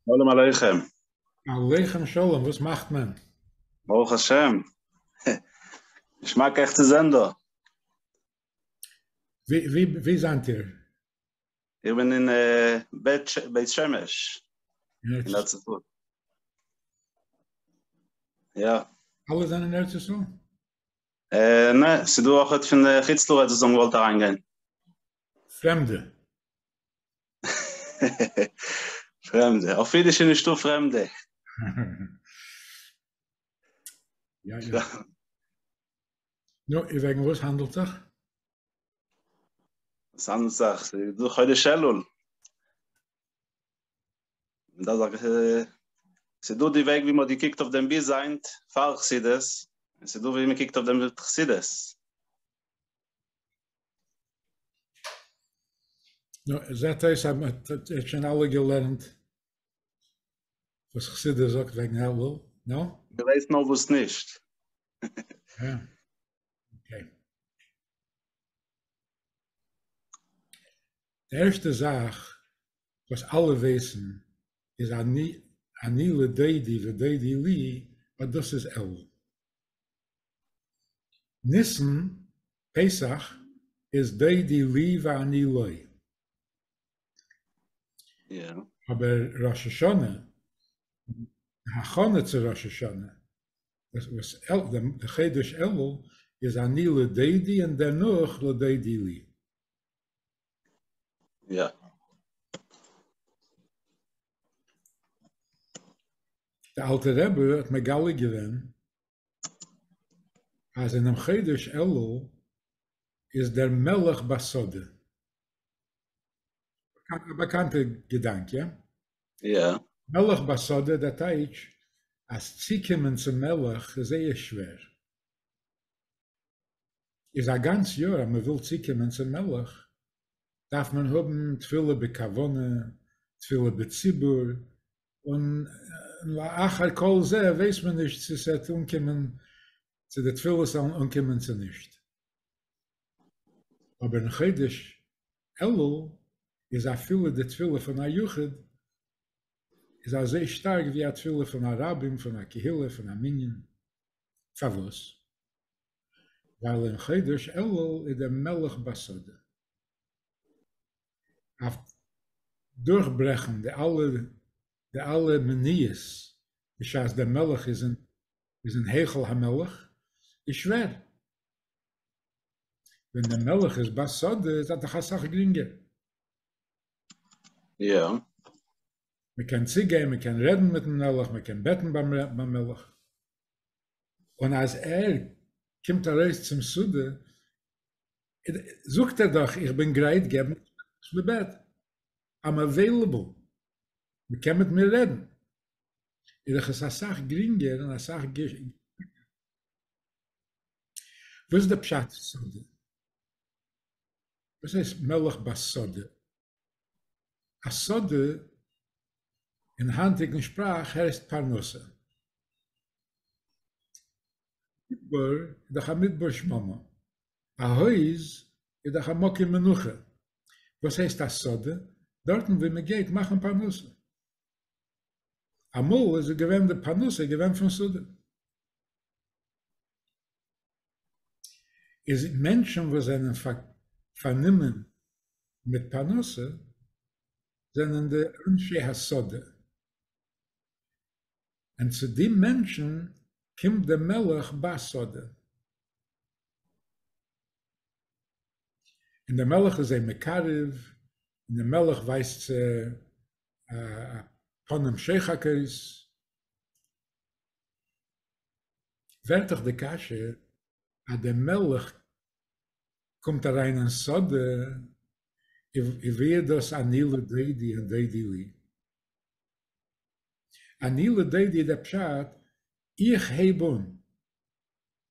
שלום עליכם. עליכם שלום, וואס מאכט מען? ברוך השם. געשמאק אייך צו זען דא. ווי זענט איר? איך בין אין בית שמש. אין ארץ ישראל. יא. אלע זענען אין ארץ ישראל? נע, ס'דא אויכעט פון חוץ לארץ וואס האבן געוואלט אריינגיין. פרעמדע? פרעמדע, אויף אידיש איז נישטא פרעמדע. יא יא. נו, און וועגן וואס האנדלט זיך? וואס האנדלט זיך? ס'איז דא חודש אלול. און דאס זאגט ס'איז דא די וועג ווי מ'האט געקוקט אויף דעם ביז היינט פאר חסידות, און ס'איז דא ווי מ'קוקט אויף דעם מיט חסידות. נו, עס זעט אויס אז מען האט שוין אלע געלערנט וואס כסדר זאגט וועגן אלול, נו? דו ווייסט נאר וואס נישט. יא. אקעי. די ערשטע זאך וואס אלע ווייסן איז אני אני לדודי ודודי לי, אז דאס איז אלול. ניסן, פסח, איז דעי די לי ואני לו. אבער ראש השנה, די הכנה צו ראש השנה, וואס די חידוש אלול איז אני לדעי די און דערנאך לדעי די לי. די אלטע רבי האט מגלה געווען אז אינעם חודש אלול איז דער מלך בשדה. א באקאנטע געדאנק, יא? יא. מלך בשדה, דער טייטש אז צוקומען צום מלך איז זייער שווער. איז א גאנץ יאר אז מען וויל צוקומען צום מלך דארף מען האבן תפילה בכוונה, תפילה בציבור, און לאחר כל זה ווייסט מען נישט צו ס'עט אנקומען צו די תפילות זאלן אנקומען צו נישט. אבער אין חודש אלול איז אפילו די תפילה פון א יחיד איז אזוי שטארק ווי א תפילה פון א רבים, פון א קהילה, פון א מנין. פארוואס? ווייל אין חודש אלול איז דער מלך בשדה. אויף דורכברעכן די אלע די אלע מניעות בשעת דער מלך איז אין איז אין היכל המלך איז שווער. ווען דער מלך איז ביי סאדע איז א דאך אסאך גרינגער. יא. מען קען צוגיין מען קען רעדן מיטן מלך מען קען בעטן ביים מלך. און אז ער קומט ארויס צום סאדע זאגט ער דאך איך בין גרייט געבן וואס מען בעט, איים עוועילעבל, מען קען מיט מיר רעדן, איז דאך עס אסאך גרינגער און אסאך געשמאקער. וואס איז די פשט סאדע? וואס הייסט מלך בסאדע? א סאדע אין היינטיגן שפראך הייסט פרנסה. מדבר איז דאך א מדבר שממה. א הויז איז דאך א מקום מנוחה, וואס הייסט א שדה? דארטן ווי מען גייט מאכן פרנסה. אמאל איז עס געווען די פרנסה איז געווען פון שדה. איז מענטשן וואס זענען פארנומען מיט פרנסה זענען די אנשי השדה. און צו די מענטשן קומט די מלך בשדה. און דער מלך איז זיי מקרב, און דער מלך ווייזט צו א פנים שוחקות. ווערט דאך די קשיא, אז דער מלך קומט אריין אין שדה, און ווי איז דאס אני לדודי און דודי לי? אני לדודי איז דער פשט, איך הייב אן,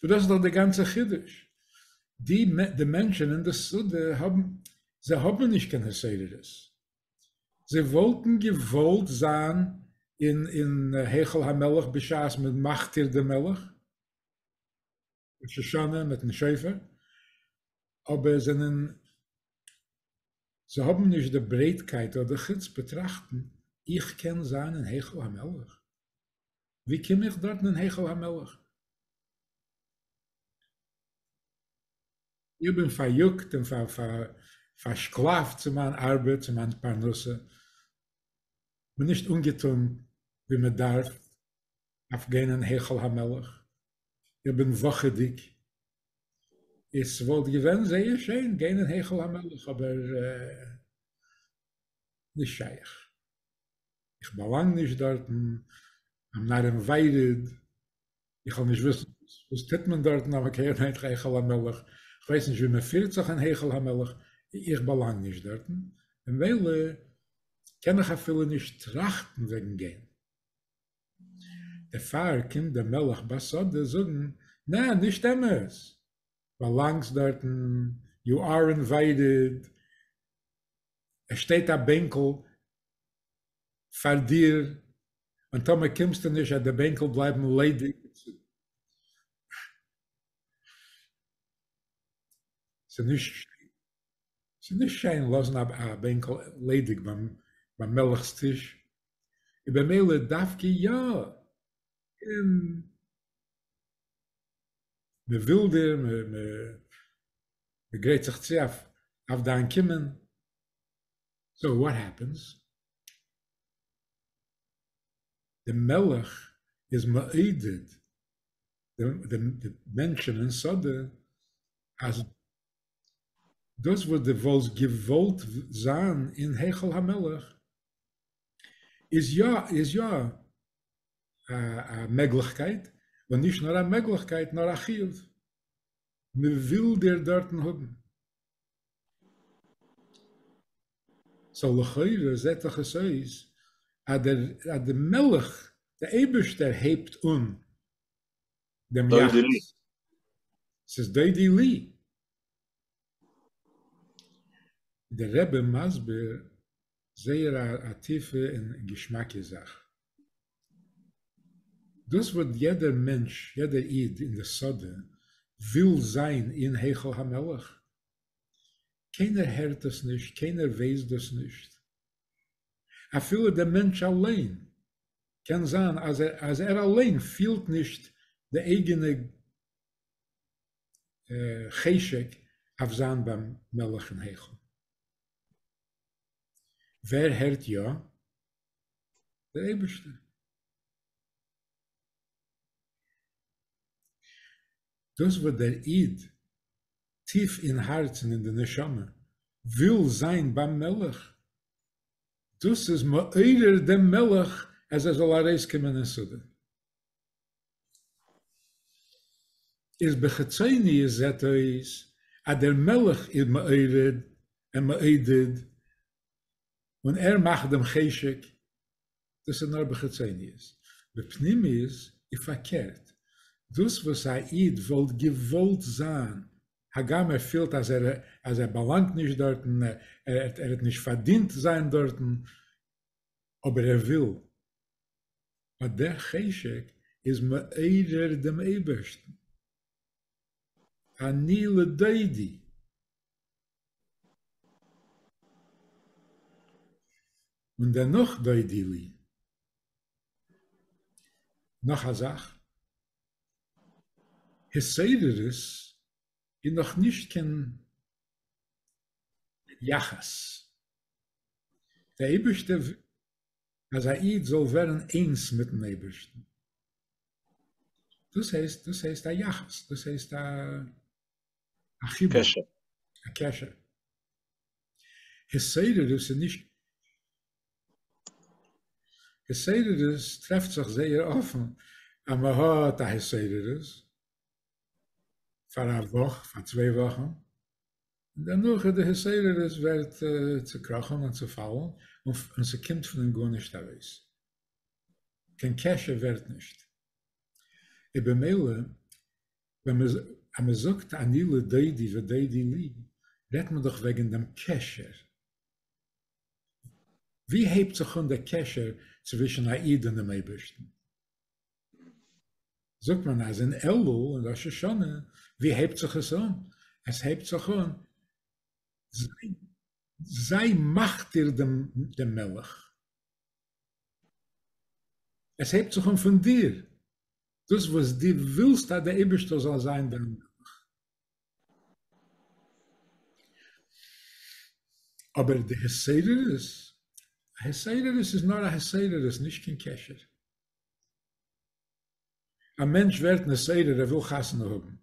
סאו דאס איז דאך די גאנצע חידוש, די די מענטשען אין די שדה האבן, זיי האבן נישט קיין הסדרות, זיי וואלטן געוואלט זיין אין אין היכל המלך בשעת מען מכתיר די מלך, ראש השנה מיטן שופר, אבער זענען, זיי האבן נישט די ברייטקייט אדער חוצפה טראכטן, איך קען זיין אין היכל המלך? ווי קום איך דארטן אין היכל המלך? איך בין פאריאגט און פארשקלאפט צו מיין ארבעט, צו מיין פרנסה, בין נישט אנגעטון ווי מען דארף אויף גיין אין היכל המלך, איך בין וואכעדיג, עס וואלט געווען זייער שיין גיין אין היכל המלך אבער נישט שייך. איך באלאנג נישט דארטן, איים נאט אינווייטעד, איך וועל נישט וויסן וואס טוט מען דארטן אויף הקרן היכל היכל המלך, כ'ווייס נישט ווי מען פירט זיך אין היכל המלך, איך באלאנג נישט דארטן, ממילא קען איך אפילו נישט טראכטן וועגן גיין. דערפאר קומט דער מלך בסוד זאגן, נע, נישט אמת, באלאנגסט דארטן, יו אר אינווייטעד, עס שטייט א בענקל, פאר דיר, און טאמער קומסטו נישט וועט די בענקל בלייבן ליידיג. ס'איז נישט שיין, ס'איז נישט שיין לאזן א בענקל ליידיג ביים מלך'ס טיש, און במילא דווקא יא, און מ'וויל דיר, מ'גרייט זיך צו אויף דיין קומען. סאו וואט העפענס? די מלך איז מעודד די מענטשען אין שדה אז דאס וואס די וואלסט געוואלט זיין אין היכל המלך איז יא איז יא א מעגליכקייט און נישט נאר א מעגליכקייט נאר א חיוב מען וויל דיר דארטן האבן. סאו לכאורה זעט דאך עס אויס אז דער אז די מלך די אייבערשטער הייבט אן דעם יחוס. ס'איז דודי לי. דער רבי מסביר זייער א טיפע און געשמאקע זאך. דאס וואס יעדער מענטש, יעדער איד אין די שדה וויל זיין אין היכל המלך. קיינער הערט דאס נישט, קיינער ווייסט דאס נישט. אפילו דער מענטש אליין, קען זיין אז ער אליין פילט נישט די אייגענע חשק אויף זיין ביים מלך אין היכל. ווער הערט יא? דער אייבערשטער. דאס וואס דער איד טיף אין הארץ און אין די נשמה וויל זיין ביים מלך, דאס איז מעורר דעם מלך אז ער זאל ארויסקומען אין סדום. איז בחיצוניות זעט אויס אז דער מלך איז מעורר און מעודד און ער מאכט דעם חשק, דאס איז נאר בחיצוניות, בפנימיות איז פארקערט, דאס וואס א איד וואלט געוואלט זיין, הגם ער פילט אז ער אז ער באלאנגט נישט דארטן, ער ער האט נישט פארדינט זיין דארטן, אבער ער וויל, אז דער חשק איז מעורר דעם אייבערשטן, אני לדודי, און דערנאך דודי לי. נאך א זאך, התעוררות איז נאכנישט קיין יחס, דער אייבערשטער אז א איד זאל ווערן איינס מיט'ן אייבערשטן, דאס הייסט, דאס הייסט א יחס, דאס הייסט א א חיבור, קשר, א קשר. התעוררות איז נישט, התעוררות טרעפט זיך זייער אפן אז מען האט א התעוררות פאר א וואך, פאר צוויי וואכן, און דערנאך איז די התעוררות ווערט צוקראכן און צופאלן און ס'קומט פון אים גארנישט ארויס, קיין קשר ווערט נישט, איז במילא ווען אז מען זאגט אני לדודי ודודי לי רעדט מען דאך וועגן דעם קשר, ווי הייבט זיך אן דער קשר צווישן א איד און דעם אייבערשטן? זאגט מען אז אין אלול און ראש השנה, ווי הייבט זיך עס אן? עס הייבט זיך אן זיי זיי מכתיר דעם דעם מלך, עס הייבט זיך אן פון דיר, דאס וואס דו ווילסט אז דער אייבערשטער זאל זיין דיין מלך. אבער די התעוררות, התעוררות איז נאר א התעוררות, נישט קיין קשר. א מענטש ווערט נסייר ער וויל חתונה האבן,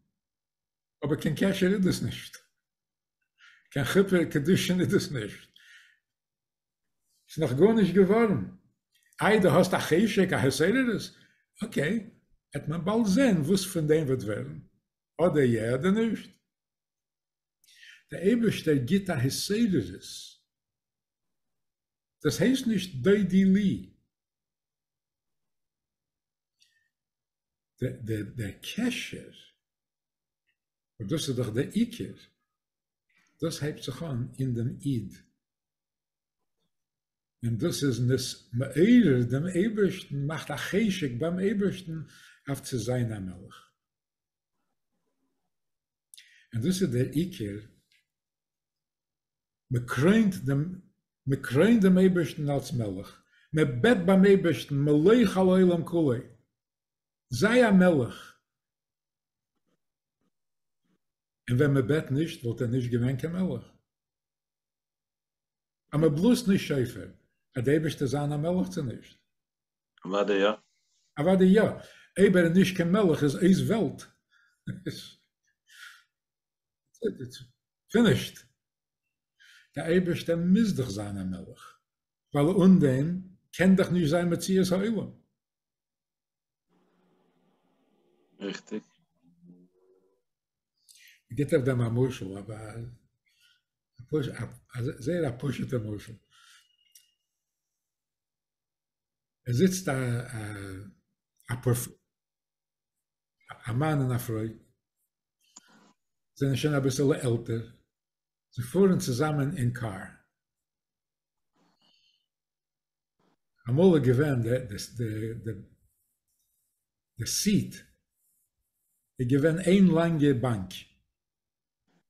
אבער קיין קשר איז דאס נישט, קיין חופה קידושין איז דאס נישט, ס'איז נאך גארנישט געווארן, איי דו האסט א חשק א התעוררות, אקעי, עט מען באלד זען וואס פון דעם וועט ווערן, אדער יע אדער נישט. דער אייבערשטער גיט א התעוררות, דאס הייסט נישט דודי לי, דער דער קשר, און דאס איז דאך דער עיקר, דאס הייבט זיך אן אין דעם איד, און דאס איז נס מעורר דעם אייבערשטן, מאכט א חשק ביים אייבערשטן אויף צו זיין א מלך. און דאס איז דער עיקר מען קרוינט דעם מען קרוינט דעם אייבערשטן אלס מלך, מען בעט ביים אייבערשטן מלך על עולם כולו, זיי א מלך, און ווען מען בעט נישט וואלט ער נישט געווען קיין מלך, אז מען בלאזט נישט שופר וועט דער אייבערשטער זיין א מלך צו נישט? אוודאי יא. אוודאי יא, אויב ער איז נישט קיין מלך איז אויס וועלט. פינישט. דער אייבערשטער מוז דאך זיין א מלך, ווייל אן דעם קען דאך נישט זיין מציאות העולם. ריכטיג. ער גיבט אויף דעם א משל, א זייער א פשוט'ער משל. עס זיצט א פראפעסאר א מאן און א פרוי זענען שוין אביסעלע עלטער, זיי פארן צוזאמען אין קאר, אמאל איז געווען די די די די סיעט איז געווען איין לאנגע באנק,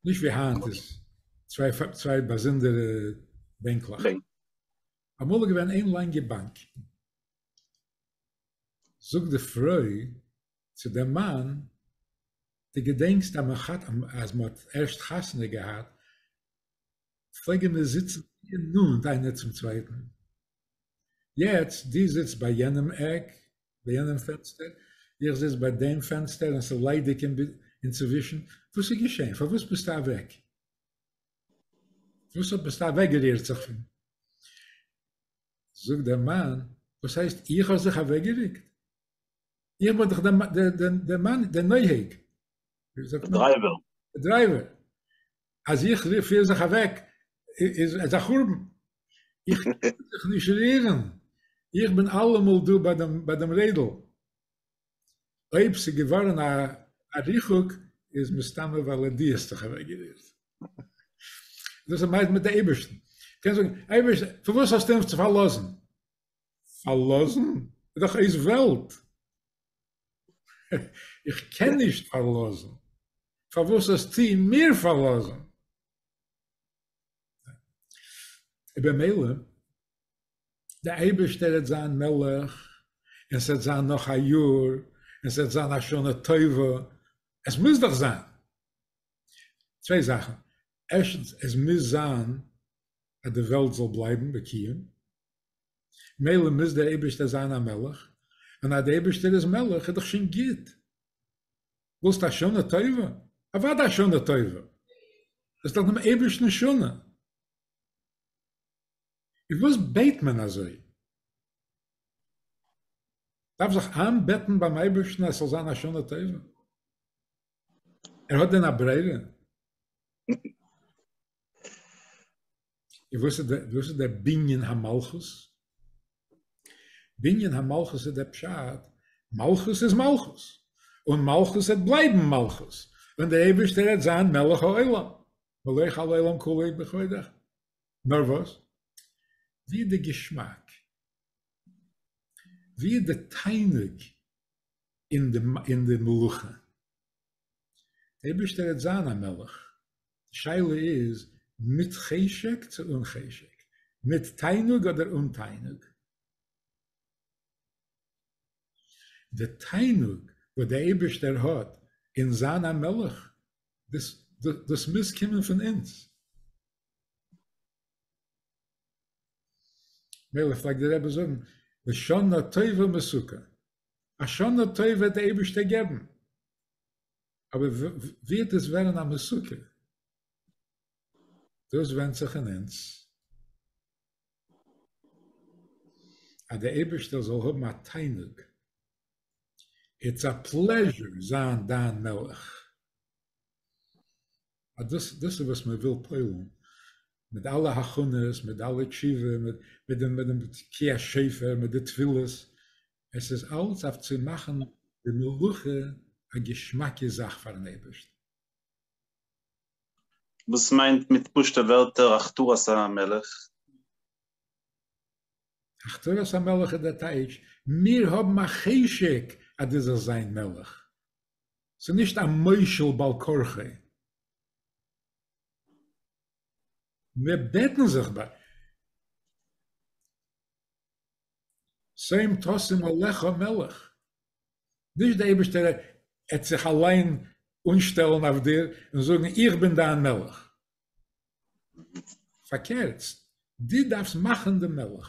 נישט ווי היינט איז צוויי צוויי באזונדערע בענקלעך, אמאל איז געווען איין לאנגע באנק, זאגט די פרוי צו דעם מאן, דו געדענקסט אז מען האט אז מען האט ערשט חתונה געהאט, פלעגען מיר זיצן גאר נאנט איינער צום צווייטן, יעצט דו זיצט ביי יענעם עק, ביי יענעם פענסטער, איך זיץ ביי דעם פענסטער און ס'איז ליידיג אינצווישן, וואס איז געשען? פארוואס ביסטו אוועק? פארוואס ביסטו אוועקגערירט זיך פון. זאגט דער מאן, וואס הייסט איך האב זיך אוועקגעריקט? איך בין דאך דער מאן, דער נוהג. דער דרייווער. דער דרייווער. אז איך פיר זיך אוועק, איז עס א חורבן. איך קען זיך נישט רירן. איך בין אלעמאל דא ביי דעם רעדל. אויב ס'איז געווארן א ריחוק איז מסתמא ווייל ער די האסט דיך אוועק גערירט. דאס איז מיידן מיט די אייבערשטן. קענסט זאגן, אייבערשטער, פארוואס האסטו אונז פארלאזן? פארלאזן? איז דאך אויס וועלט. איך קען נישט פארלאזן. פארוואס האסטו מיר פארלאזן? און במילא דער אייבערשטער העט זיין מלך, און ס'העט זיין נאך א יאר, און ס'העט זיין א שנה טובה, עס מוז דאך זיין. צוויי זאכן, ערשטנס, עס מוז זיין אז די וועלט זאל בלייבן בקיום, מילא מוז דער אייבערשטער זיין א מלך, און אז דער אייבערשטער איז מלך איז דאך שוין גוט. ווילסט א שנה טובה? אוודאי א שנה טובה! עס איז דאך דעם אייבערשטנ'ס שנה. איז וואס בעט מען אזוי? דארף זיך איינבעטן ביים אייבערשטן אז ס'זאל זיין א שנה טובה? ער האט דען א ברירה? און וואס איז דער וואס איז דער בנין המלכות? בנין המלכות איז דער פשט, מלכות איז מלכות, און מלכות וועט בלייבן מלכות, ווען דער אייבערשטער וועט זיין מלך העולם, מלך על עולם כולו בכבודך. נאר וואס? ווי איז די געשמאק? ווי איז די תענוג אין די מלוכה? דער אייבערשטער העט זיין א מלך, די שאלה איז מיט חשק צו אן חשק, מיט תענוג אדער אן תענוג? די תענוג וואס דער אייבערשטער האט אין זיין א מלך, דאס מוז קומען פון אונז. מילא פלעגט דער רבי זאגן, לשנה טובה מסוכה, א שנה טובה וועט דער אייבערשטער געבן, אבער ווערט עס ווערן א מסוכה? דאס ווענדט זיך אין אונז. אז דער אייבערשטער זאל האבן א תענוג, איטס א פלעזשור זיין דיין מלך. אז דאס דאס איז וואס מען וויל פועל'ן, מיט אלע הכנות, מיט אלע תשובה, מיט מיט דעם מיט דעם תקיע שופר, מיט די תפילות, עס איז אלץ אויף צו מאכן די מלאכה א געשמאקע זאך פאר'ן אייבערשטן. וואס מיינט מיט פשוט'ע ווערטער הכתרת המלך? הכתרת המלך איז דער טייטש, מיר האבן א חשק אז דו זאלסט זיין מלך, ס'איז נישט א מושל בעל כרחי. מיר בעטן זיך ביי שמים תשים עליך מלך. נישט דער אייבערשטער עט זיך אליין אנשטעלן אויף דיר און זאגן איך בין דיין מלך. פארקערטס, דו דארפסט מאכן די מלך.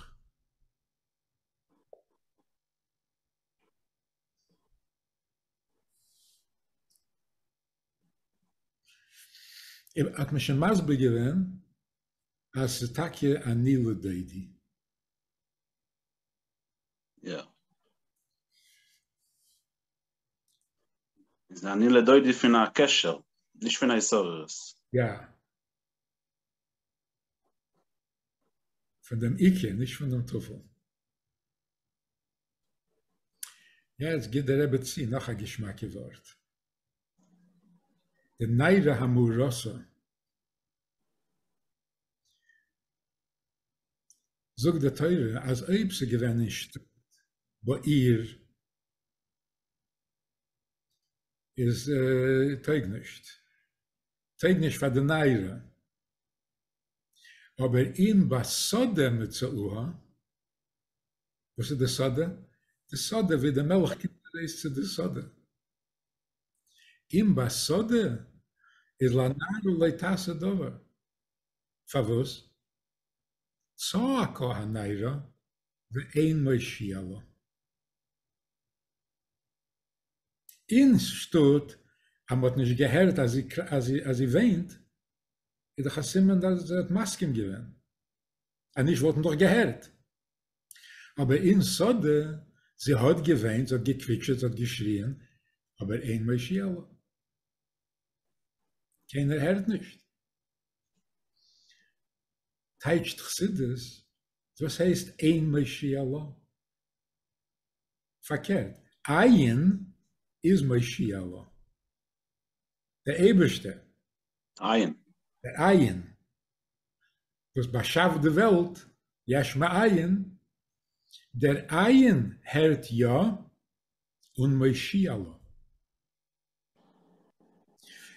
האט מען שוין מסביר געווען אז ס'איז טאקע אני לדודי. יא. איז אני לדודי פון א קשר, נישט פון א התעוררות. יא. פון דעם עיקר, נישט פון דעם טפל. יעצט גיט דער רבי צו נאך א געשמאקע ווארט. די ניירא המאורסא זאגט די תורה אז אויב ס'איז געווען אין שטאט בעיר איז טויג נישט, טויג נישט פאר די ניירא, אבער אם בשדה מצאוה וואס איז די סאדע? די סאדע ווי די מילך קומט ארויס צו די סאדע. אם בא סאדע איז לנער אולי תעשה דבר. פארוואס? צעקה הנערה ואין מושיע לה. אין שטאט אז מ'האט נישט געהערט אז זי וויינט, איז דאך א סימן אז זי האט מסכים געווען. אז נישט וואלט מען דאך געהערט. אבער אין סאדע, זי האט געוויינט, זי האט געקוויטשעט, זי האט געשריען, אבער אין מושיע ל. קיינער הערט נישט. טייטשט חסידות, וואס הייסט אין מושיע ל? פארקערט, עיין איז מושיע ל. דער אייבערשטער. עיין. דער עיין. וואס באשאפט די וועלט, יש מאין, דער עין הערט יא און מושיע לו.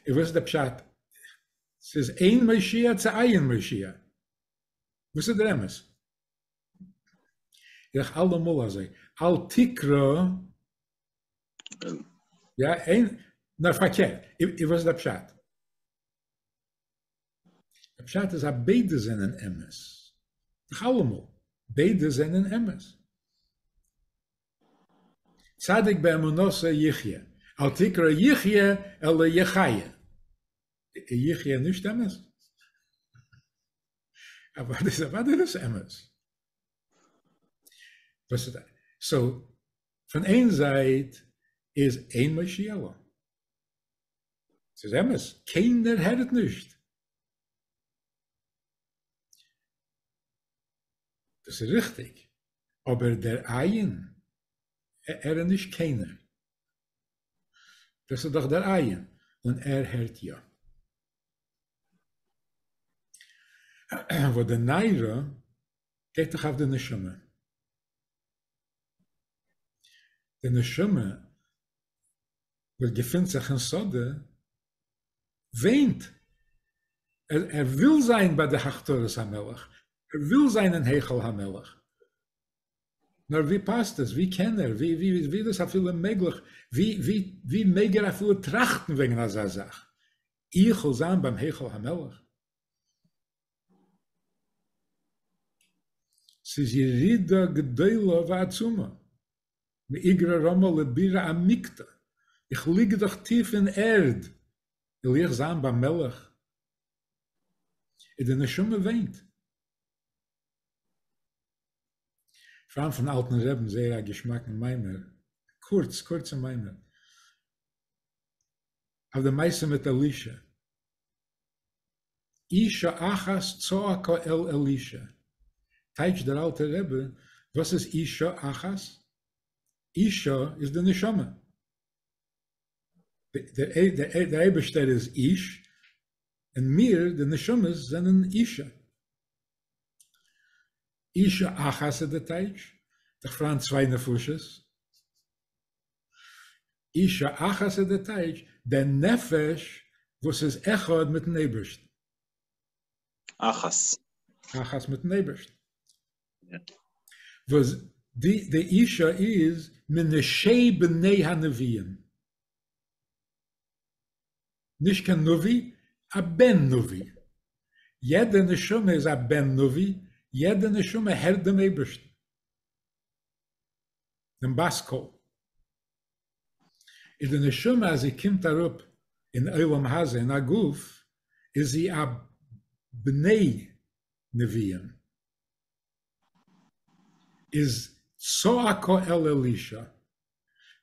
און וואס איז דער פשט? ס'איז עין מושיע צו עין מושיע? וואס איז דער אמת? איז דאך אלעמאל אזוי, אל תקרא, יא, עין, נאר פארקערט, און וואס איז דער פשט? די פשט איז אז ביידע זענען אמת. נאך אלעמאל, ביידע זענען אמת. צדיק באמונתו יחיה, אל תקרא יחיה אלא יחיה. איז יחיה נישט אמת? אוודאי איז אוודאי דאס אמת. סאו, פון איין זייט איז אין מושיע לו, ס'איז אמת, קיינער הערט נישט. דאס איז ריכטיג, אבער דער עיין, ער איז נישט קיינער. דאס איז דאך דער עיין, און ער הערט יא. וואס די ניירא גייט דאך אויף די נשמה. די נשמה וואס געפינט זיך אין שדה וויינט, ער וויל זיין ביי די הכתרת המלך, ער וויל זיין אין היכל המלך, נאר ווי פאסט עס, ווי קען ער, ווי איז דאס אפילו מעגליך, ווי מעג ער אפילו טראכטן וועגן אזא זאך, איך וויל זיין ביים היכל המלך? ס'איז ירידה גדולה ועצומה, מאיגרא רמא לבירא עמיקתא, איך ליג דאך טיף אין ערד, וויל איך זיין ביים מלך? און די נשמה וויינט. פארן פון אלטן רעבן זייער א געשמאקן מיימער, קורץ קורצע מיימער, אויף די מעשה מיט אלישע. אישה אחת צעקה אל אלישע, טייטש דער אלטער רבי, וואס איז אישה אחת? אישה איז די נשמה, דער אייבערשטער איז איש, און מיר די נשמות זענען אישה. אישה אחת איז די טייטש, דיך פריינד צוויי נפשות. אישה אחת איז די טייטש די נפש וואס איז אחד מיטן אייבערשטן. אחת. אחת מיטן אייבערשטן. וואס די די אישה איז מנשי בני הנביאים. נישט קיין נביא, א בן נביא. יעדע נשמה איז א בן נביא, יעדע נשמה הערט דעם אייבערשטן. דעם בת קול, איז די נשמה אז זי קומט אראפ אין עולם הזה אין א גוף איז זי א בני נביאים, איז צעקה אל אלישע,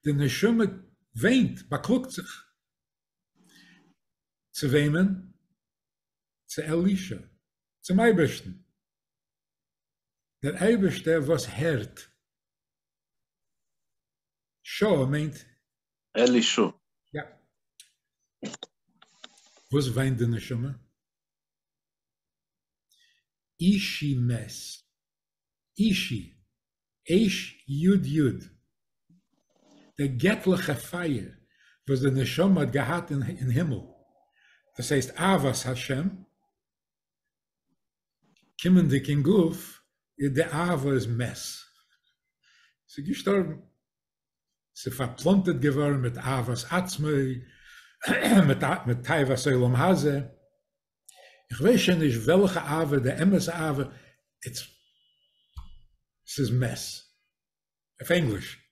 די נשמה וויינט, באקלאגט זיך, צו וועמען? צו אלישע, צום אייבערשטן, דער אייבערשטער וואס הערט. שא מיינט. אלישא. יא. וואס וויינט די נשמה? אישי מעס. אישי. עיש יוד יוד. דער געטליכע פייער וואס די נשמה האט געהאט אין הימל, דאס הייסט אהבת השם, קומענדיג אין גוף איז די אהבה איז מעס ס'איז געשטארבן ס'איז פארפלאנטערט געווארן מיט אהבת עצמי מיט מיט תאוות עולם הזה איך ווייס שוין נישט וועלכע אהבה די אמת אהבה איטס ס'איז מעס אויף ענגליש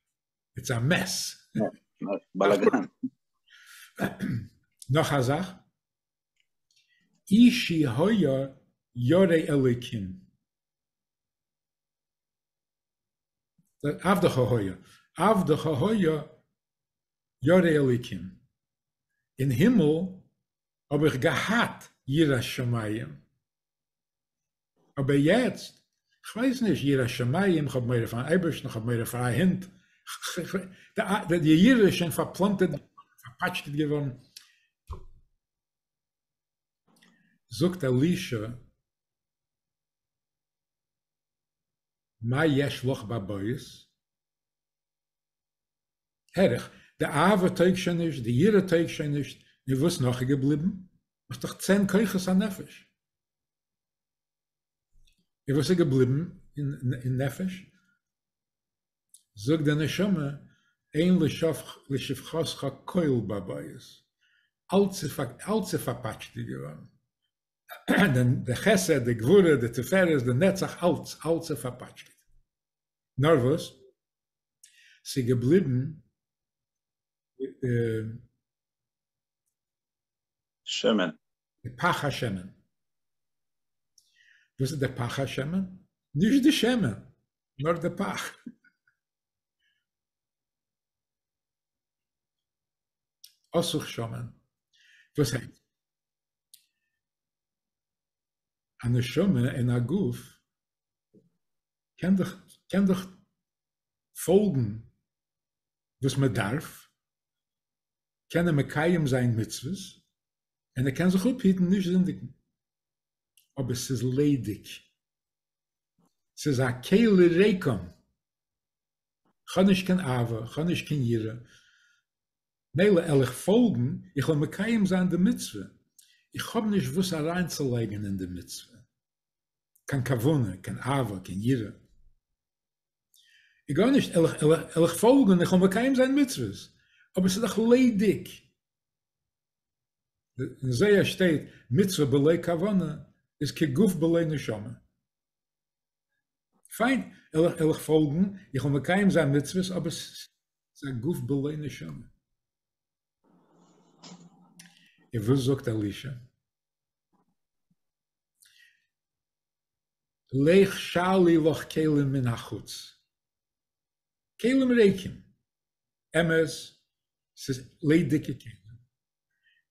איטס א מעס. בלאגאן. נאך א זאך. אישי היה ירא אלוקים. עבדך היה, עבדך היה ירא אלוקים. אין הימל האב איך געהאט יראת שמים, אבער יעצט, כ'ווייס נישט, יראת שמים, כ'האב מורא פארן אייבערשטן, כ'האב מורא פאר א הונט, די ירידה איז שוין פארפלאנטערט געווארן, פארפאטשקעט געווארן. זאגט אלישע, מה יש לך בבית? הער איך, די אהבה טויג שוין נישט, די יראה טויג שוין נישט, נו וואס נאך איז געבליבן? האסט דאך צען כוחות הנפש. און וואס איז געבליבן אין נפש? זאגט די נשמה, אין לשפחותך כל בבית, אלץ איז פארפאטשטעט געווארן, די חסד, די גבורה, די תפארת, די נצח, אלץ, אלץ איז פארפאטשקעט. נאר וואס? ס'געבליבן די. שמן. די פך השמן. וואס איז די פך השמן? נישט די שמן, נאר די פך. אסוך שמן. וואס הייסט? א נשמה אין א גוף קען דאך קען דאך פאלגן וואס מען דארף, קען ער מקיים זיין מצוות, און ער קען זיך אפהיטן נישט זינדיגן, אבער ס'איז ליידיג, ס'איז א כלי ריקם, כ'האב נישט קיין אהבה, כ'האב נישט קיין יראה, מילא על איך פאלגן, איך וועל מקיים זיין די מצוה, איך האב נישט וואס אריינצולייגן אין די מצוה. קיין כוונה, קיין אהבה, קיין יראה. גארנישט, על איך פאלגן, איך וועל מקיים זיין מצוות, אבער ס'איז דאך ליידיג. אין זי ע שטייט, מצוה בלא כוונה איז כגוף בלא נשמה. פיין, על איך פאלגן, איך וועל מקיים זיין מצוות, אבער ס'איז א גוף בלא נשמה. און וואס זאגט אלישע? לך שאלי לך כלים מן החוץ, כלים ריקים, אמת ס'איז ליידיגע כלים,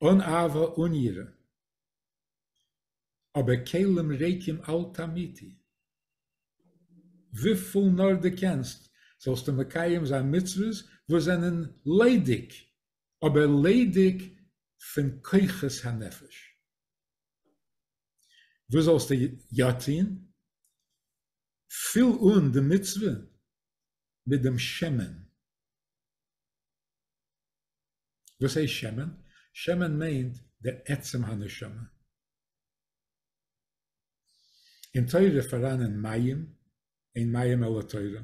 אן אהבה אן יראה, אבער כלים ריקים אל תמיתי, וויפיל נאר דו קענסט זאלסטו מקיים זיין מצוות וואס זענען ליידיג, אבער ליידיג פון כוחות הנפש. וואס זאלסטו יא טון? פיל אן די מצוה מיט דעם שמן. וואס הייסט שמן? שמן מיינט דער עצם הנשמה. אין תורה פאראנען מים, אין מים אלא תורה,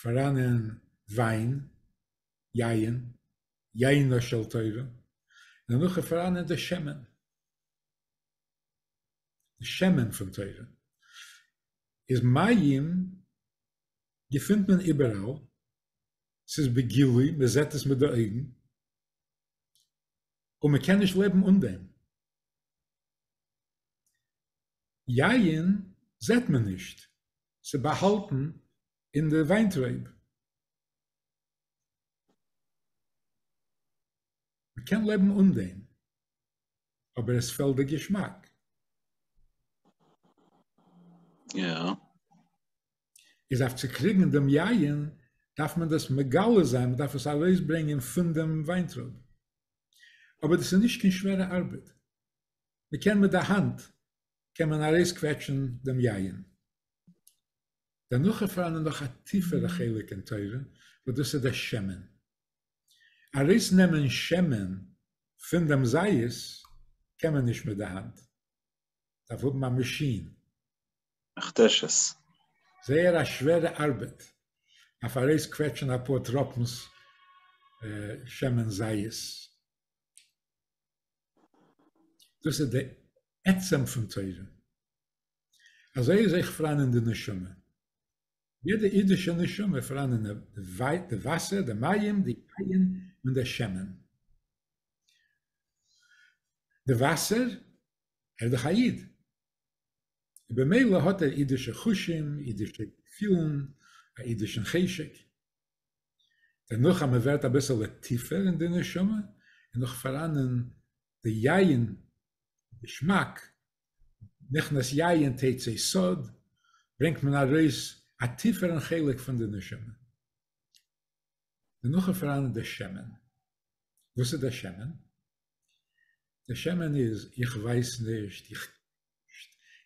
פאראנען וויין, יין, יינה של תורה, און דערנאך איז פארהאנען די שמן, די שמן פון תורה, איז מים געפינט מען איבעראל, ס'איז בגילוי, מען זעט עס מיט די אויגן, און מען קען נישט לעבן אן דעם. יין זעט מען נישט, ס'איז באהאלטן אין די וויינטרייב, מ'קען לעבן אן דעם, אבער עס פעלט די געשמאק. איז אויף צו קריגן דעם יין דארף מען דאס מגלה זיין, מען דארף עס ארויסברענגען פון דעם וויינטרויב. אבער דאס איז נישט קיין שווערע ארבעט, מ'קען מיט די האנט קען מען ארויסקוועטשן דעם יין. דערנאך איז פאראנען נאך א טיפערע חלק אין תורה וואס דאס איז דער שמן. ארויס נעמען שמן פון דעם זית קען מען נישט מיט די האנט, דארף האבן א מאשין. מכתשות. זייער א שווערע ארבעט אויף ארויס קוועטשען אפאר טראפנס שמן זית. דאס איז די עצם פון תורה. אזוי איז אויך פאראן אין די נשמה. יעדע אידישע נשמה איז פאראן אין די וואסער, די מים, די יין און די שמן. די וואסער, ער איז דאך א איד, במילא האט ער אידישע חושים, אידישע געפילן, א אידישן חשק. דערנאך אז מען ווערט אביסעלע טיפער אין די נשמה, איז נאך פאראן אין די יין געשמאק, נכנס יין תצא סוד, ברענגט מען ארויס א טיפערן חלק פון די נשמה. דער נאך איז פאראן דער שמן. וואס איז דער שמן? דער שמן איז איך ווייס נישט,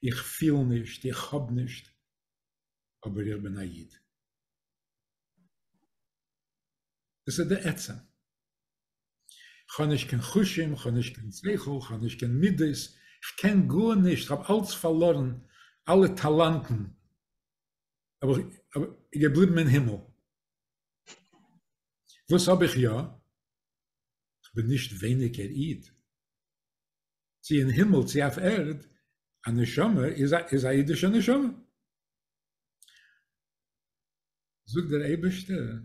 איך פיל נישט, איך האב נישט, אבער איך בין א איד. דאס איז די עצם. כ'האב נישט קיין חושים, כ'האב נישט קיין שכל, כ'האב נישט קיין מידות, כ'קען גארנישט, כ'האב אלץ פארלארן, אלע טאלאנטן, אבער כ'בין געבליבן אין הימל. וואס האב איך יא? כ'בין נישט ווייניגער איד. צו אין הימל צו אויף ערד, א נשמה איז א אידישע נשמה. זאגט דער אייבערשטער,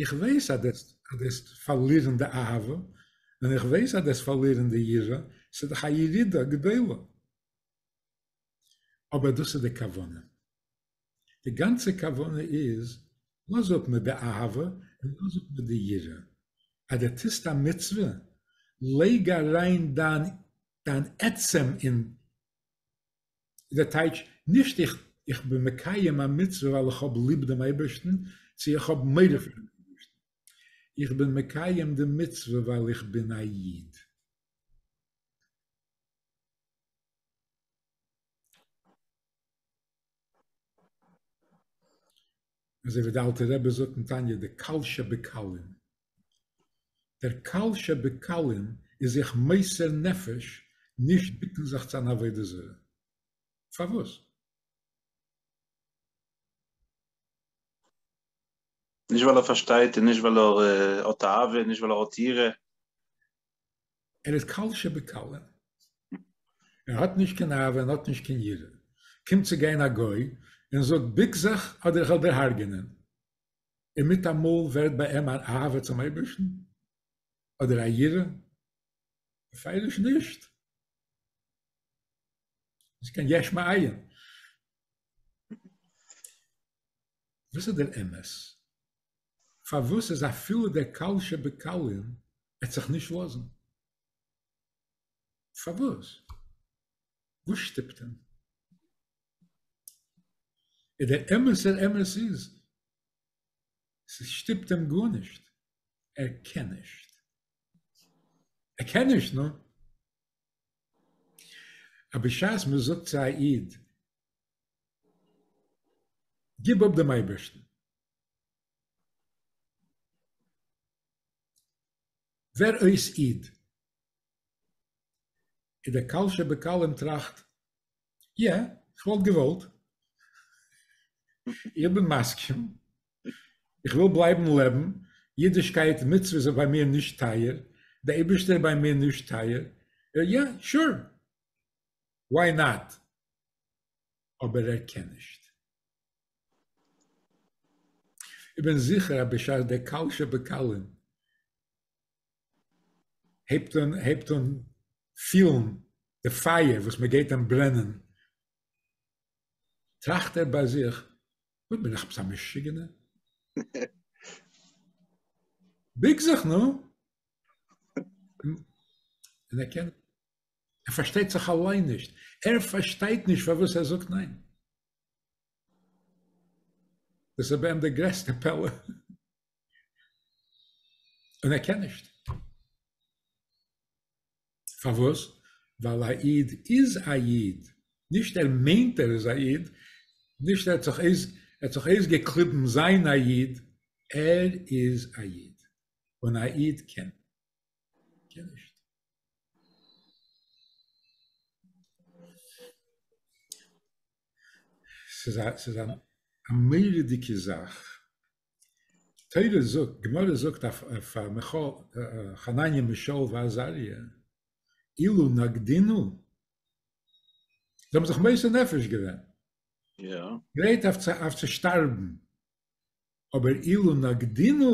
איך ווייס אז דו וועסט פארלירן די אהבה, און איך ווייס אז דו וועסט פארלירן די יראה, ס'איז דאך א ירידה גדולה, אבער דאס איז די כוונה, די גאנצע כוונה איז, לאז אפ מיט די אהבה און לאז אפ מיט די יראה, אז דו טוסט א מצוה, לייג אריין דיין עצם אין איז דער טייטש נישט איך איך בין מקיים א מצוה ווייל איך האב ליב דעם אייבערשטן, צו איך האב מורא פון דעם אייבערשטן. איך בין מקיים די מצוה ווייל איך בין א איד. אזוי ווי די אלטע רבי זאגט אין תניא די קל שבקלים. דער קל שבקלים איז זיך מוסר נפש נישט בוקן זיך צו אן עבודה זרה. פארוואס? נישט ווייל ער פארשטייט און נישט ווייל ער האט תאווה און נישט ווייל ער האט יראה. ער איז קל שבקלים. ער האט נישט קיין אהבה און האט נישט קיין יראה. קומט צו גיין א גוי און זאגט בוק זיך אדער איך וועל דיר הרג'ענען. און מיטאמאל ווערט ביי אים אן אהבה צום אייבערשטן, אדער א יראה, פירוש נישט, איז קיין יש מאין. וואס איז דער אמת? פארוואס איז אפילו דער קל שבקלים עט זיך נישט לאזן? פארוואס? וואס שטופט אים? און דער אמת'ער אמת איז, ס'שטופט אים גארנישט, ער קען נישט. ער קען נישט, נו. אבער בשעת מען זאגט צו א איד, גיב אפ דעם אייבערשטן, ווער אויס איד, איז דער קל שבקלים טראכט, יא, איך וואלט געוואלט. איך בין מסכים. איך וויל בלייבן לעבן. אידישקייט, מצוות איז ביי מיר נישט טייער. דער אייבערשטער איז ביי מיר נישט טייער. יא, שור. וואי נאט? אבער ער קען נישט. איך בין זיכער אז בשעת דער קל שבקלים הייבט אן הייבט אן פילן די פייער וואס מען גייט אים ברענען, טראכט ער ביי זיך, וואס בין איך עפעס א משוגענער? ביג זיך נאר! און ער קען, ער פארשטייט זיך אליין נישט, ער פארשטייט נישט פארוואס ער זאגט ניין. דאס איז ביי אים די גרעסטע פלא. און ער קען נישט. פארוואס? ווייל א איד איז א איד, נישט ער מיינט ער איז א איד, נישט ער האט זיך אויס ער האט זיך אויסגעקליבן זיין א איד, ער איז א איד, און א איד קען קען נישט. ס'איז א ס'איז א מורא'דיגע זאך. תורה זאגט, גמרא זאגט אויף חנניה משאול ועזריה, אילו נקדינו, זיי האבן זיך מוסר נפש געווען, גרייט אויף צו שטארבן, אבער אילו נקדינו,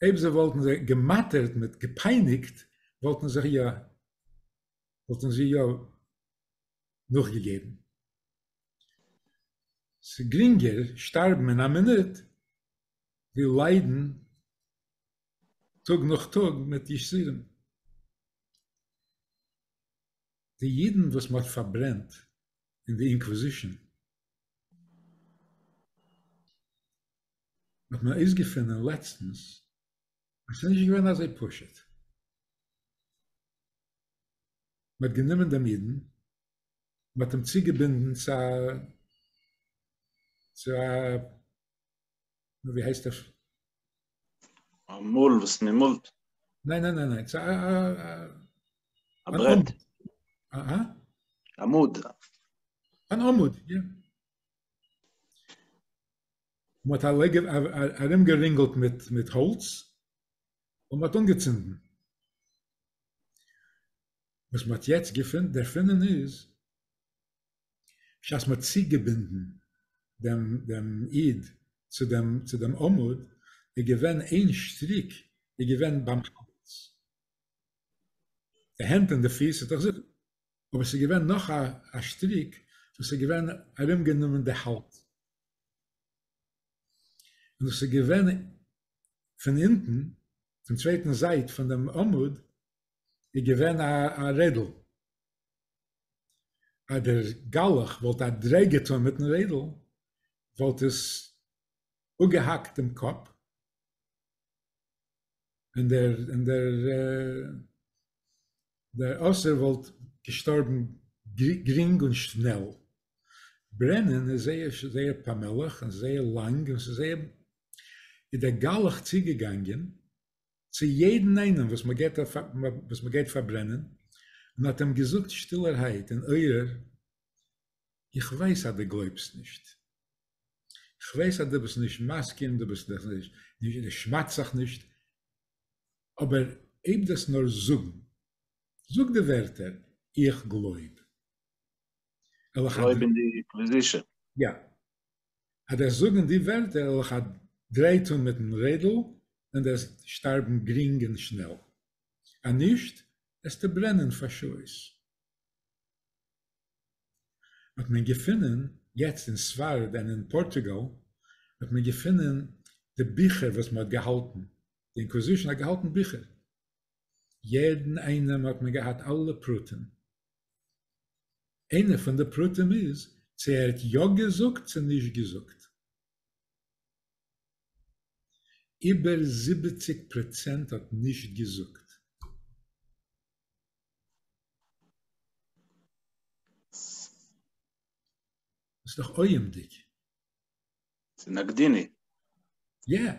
אויב זיי וואלטן זיי געמאטערט מיט געפייניגט, וואלטן זיי יא נאכגעגעבן. ס'איז גרינגער שטארבן אין א מינוט ווי ליידן טאג נאך טאג מיט יסורים. די אידן וואס מ'האט פארברענט אין די אינקוואזישאן האט מען אויסגעפונען לעצטנס אז ס'איז נישט געווען אזוי פשוט. מ'האט גענומען דעם אידן מען האט אים צוגעבינדן צו א צו א ווי הייסט עס? א מאל וואס מען מאלט. ניין ניין ניין ניין צו א א א ברעט. א א? עמוד. אן עמוד, יא. מען האט אליי ארום גערינגלט מיט מיט האלץ און מען האט אנגעצינדן. וואס מ'האט יעצט געפונט דערפונען איז שאס מ'האט צוגעבינדן דעם דעם איד צו דעם צו דעם עמוד איז געווען איין שטריק איז געווען ביים קאפוץ די הענט און די פיס איז דאך זיבן אבער ס'איז געווען נאך א א שטריק וואס איז געווען ארום גענומען די האלדז און דאס איז געווען פון אונטן פון צווייטן זייט פון דעם עמוד איז געווען א רעדל, אז דער גלח וואלט א דריי געטאן מיטן רעדל וואלט עס אפגעהאקט דעם קאפ, און דער אסיר וואלט געשטארבן גרינג און שנעל. ברענען איז זייער זייער פאמעליך און זייער לאנג און ס'איז זייער איז דער גלח צוגעגאנגען צו יעדן איינעם וואס מען גייט וואס מען גייט פארברענען, און האט אים געזאגט שטילערהייט אין אויער, איך ווייס אז דו גלויבסט נישט, איך ווייס אז דו ביסט נישט מסכים, דו ביסט נישט, דו שמד'סט זיך נישט, אבער הייב דאס נאר זאגן, זאג די ווערטער, איך גלויב. גלויב אין די אינקוויזישאן. יא. אז דאס זאגן די ווערטער אויך א דריי טאן מיטן רעדל ווען דאס שטארבן גרינג און שנעל, אז נישט וועסטו ברענען פאר שעות. האט מען געפונען יעצט אין ספרד און אין פארטוגאל האט מען געפונען די ביכער וואס מען האט געהאלטן, די אינקווזישן האט געהאלטן ביכער, יעדן איינעם האט מען געהאט אלע פרטים, איינע פון די פרטים איז צו ער האט יא געזאגט צו נישט געזאגט. איבער זיבעציג פראצענט האט נישט געזאגט. דאס איז דאך אויעמדיג. ס'איז נקדיני. יע.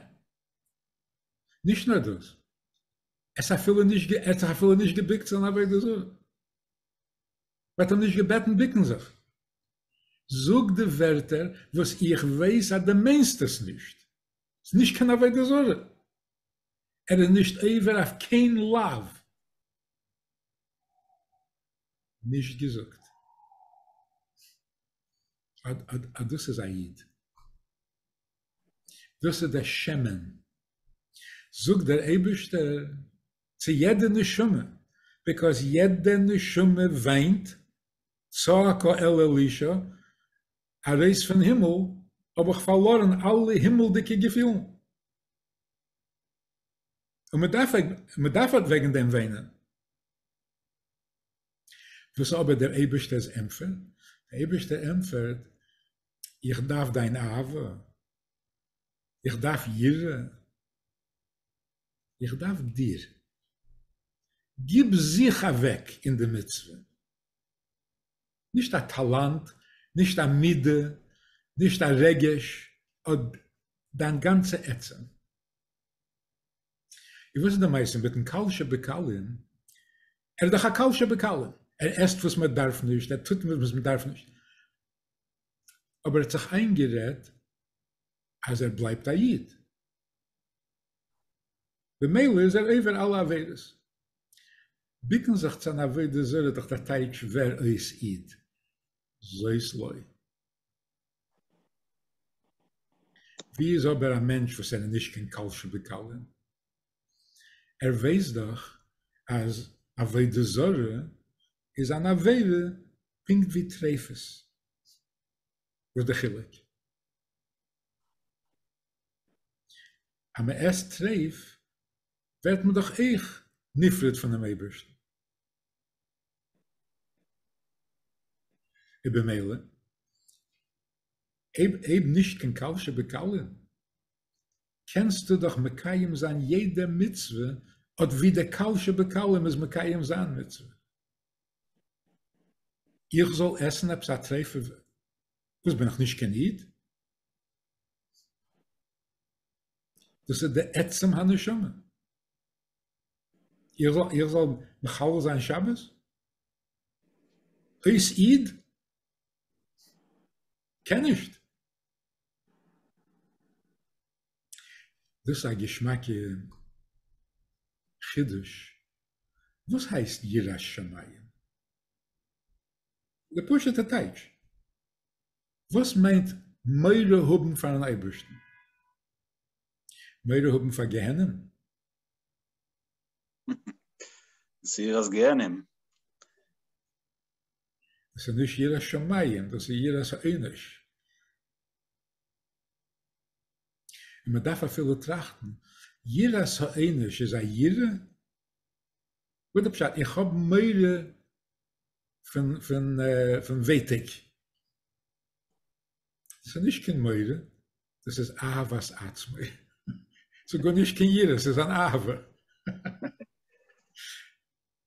נישט נאר דאס. ער האט אפילו נישט גע ער האט זיך אפילו נישט געביקט צו אן עבודה זרה. מען האט אים נישט געבעטן ביקן זיך. זאג די ווערטער וואס איך ווייס אז דו מיינסט עס נישט. ס'איז נישט קיין עבודה זרה. ער איז נישט עובר אויף קיין לאו. נישט געזאגט. אט דאס איז א איד. דאס איז דער שמן. זאגט דער אייבערשטער צו יעדע נשמה, ביקאויז יעדע נשמה וויינט, צעקה אל אלישע, ארויס פון הימל האב איך פארלארן אלע הימלדיגע געפילן, און מען דארף מען דארף אט וועגן דעם וויינען. וואס איז אבער דער אייבערשטער'ס ענטפער? דער אייבערשטער ענטפערט, איך דארף דיין אהבה, איך דארף יראה, איך דארף דיר. גיב זיך אוועק אין די מצוה. נישט א טאלאנט, נישט א מידה, נישט א רגש, אט דיין גאנצע עצם. און וואס איז די מעשה מיטן קל שבקלים? ער איז דאך א קל שבקלים, ער עסט וואס מען דארף נישט, ער טוט וואס מען דארף נישט, אבער ער האט זיך איינגערעדט אז ער בלייבט א איד, במילא איז ער עובר אלע עבירות. ביקן זיך צו אן עבודה זרה איז דאך דער טייטש ווער אויס איד, זאת לוי. ווי איז אבער א מענטש וואס ער איז נישט קיין קל שבקלים? ער ווייסט דאך אז עבודה זרה איז אן עבירה פונקט ווי טריפות. וואס די חילוק? אז מען עסט טריף ווערט מען דאך אויך נפרד פונעם אייבערשטן. און במילא, אויב נישט קיין קל שבקלים, קענסטו דאך מקיים זיין יעדע מצוה אט ווי די קל שבקלים איז מקיים זיין מצוה. איך זאל עסן עפעס א טריפה וואס בין איך נישט קיין איד? דאס איז די עצם הנשמה. איך זאל מחלל זיין שבת? אויס איד? קען נישט. דאס איז א געשמאקע חידוש, וואס הייסט יראת שמים? די פשוט'ע טייטש, וואס מיינט מורא האבן פארן אייבערשטן? מורא האבן פאר גיהנום? זיכער אז גיהנום. דאס איז נישט יראת שמים, דאס איז יראת העונש. און מען דארף אפילו טראכטן, יראת העונש איז א יראה? וואס איז די פשט? איך האב מורא פון פון פון ווייטאג. דאס איז נישט קיין מורא, דאס איז אהבת עצמי. ס'איז גארנישט קיין יראה, ס'איז אן אהבה.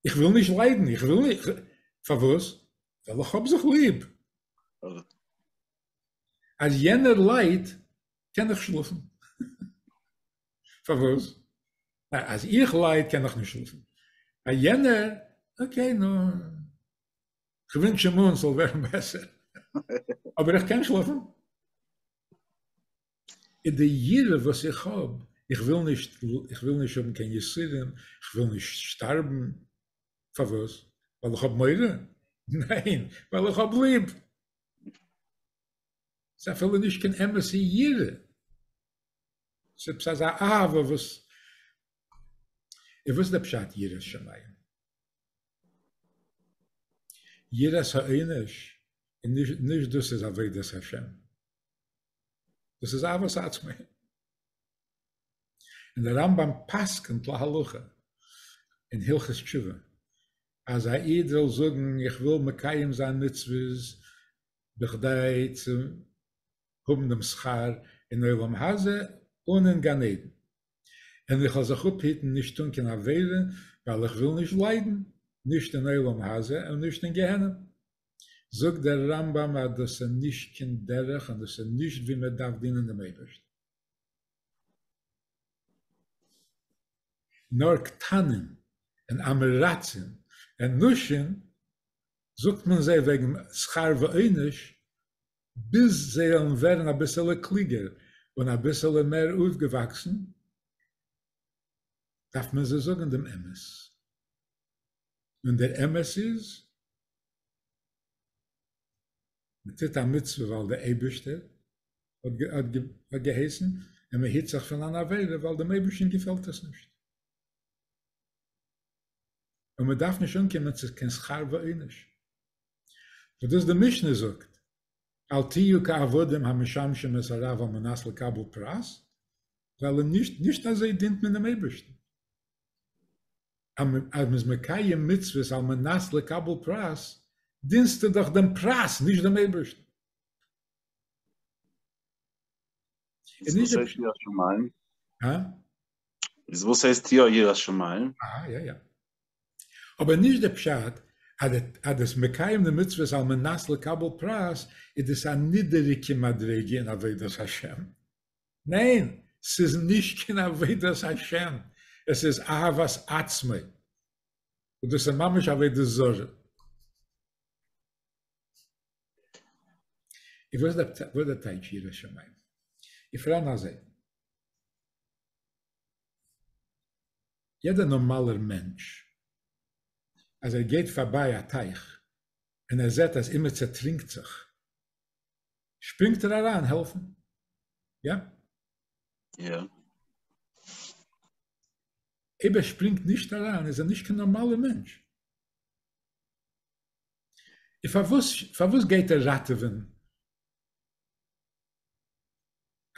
איך וויל נישט ליידן, איך וויל נישט, פארוואס? ווייל איך האב זיך ליב. אז יענער ליידט, קען איך שלאפן. פארוואס? אז איך לייד קען איך נישט שלאפן. א יענער, אקעי נו, כ'ווינטש אים אן ס'זאל ווערן בעסער. אבער איך קען שלאפן. איז די יראה וואס איך האב, איך וויל נישט, איך וויל נישט האבן קיין יסורים, איך וויל נישט שטארבן, פארוואס? ווייל איך האב מורא? ניין, ווייל איך האב ליב. ס'איז אפילו נישט קיין אמת'ע יראה, ס'איז עפעס אזא אהבה וואס, און וואס איז די פשט יראת שמים? יראת העונש איז נישט נישט דאס איז עבודת השם. דאס איז אהבת עצמי. און דער רמב ם פסק'נט להלכה אין הלכות תשובה אז א איד זאל זאגן איך וויל מקיים זיין מצוות בכדי צו האבן דעם שכר אין עולם הזה און אין גן עדן. און איך וועל זיך אפהיטן נישט טון קיין עבירה ווייל איך וויל נישט ליידן, נישט אין עולם הזה און נישט אין גיהנום. זאגט דער רמב ם אז דאס איז נישט קיין דרך און דאס איז נישט ווי מען דארף דינען דעם אייבערשטן. נאר קטנים און אמרצים און נשים זאגט מען זיי וועגן שכר ועונש ביז זיי וועלן ווערן אביסעלע קלוגער און אביסעלע מער אויפגעוואקסן, דארף מען זיי זאגן דעם אמת, און דער אמת איז, מען טוט א מצוה ווייל דער אייבערשטער האט געהייסן, און מען היט זיך פון אן עבירה ווייל דעם אייבערשטן געפעלט עס נישט, און מען דארף נישט אנקומען צו קיין שכר ועונש. וואס דאס די משנה זאגט אל תהיו כעבדים המשמשים את הרב על מנת לקבל פרס, ווייל אין נישט נישט אזוי דינט מען דעם אייבערשטן, אז מען איז מקיים מצוות על מנת לקבל פרס, דינסטו דאך דעם פרס נישט דעם אייבערשטן. איז וואס הייסט יראת שמים? איז וואס הייסט יא יראת שמים? אהא יא יא. אבער נישט די פשט אז אז דאס מקיים די מצוות על מנת לקבל פרס איז דאס א נידעריגע מדריגה אין עבודת השם, ניין ס'איז נישט קיין עבודת השם עס איז אהבת עצמי וואס דאס איז ממש עבודה זרה. און וואס איז דער טייטש ירא שמים? איך פרען אזוי. יעדער נארמאלער מענטש אז ער גייט פארביי א טייך און ער זעט אז אימער צעטרינקט זיך שפרינגט ער אריין העלפן, יעפ. יא. אויב ער שפרינגט נישט אריין איז ער נישט קיין נארמאלער מענטש. און פארוואס פארוואס גייט ער ראטעווען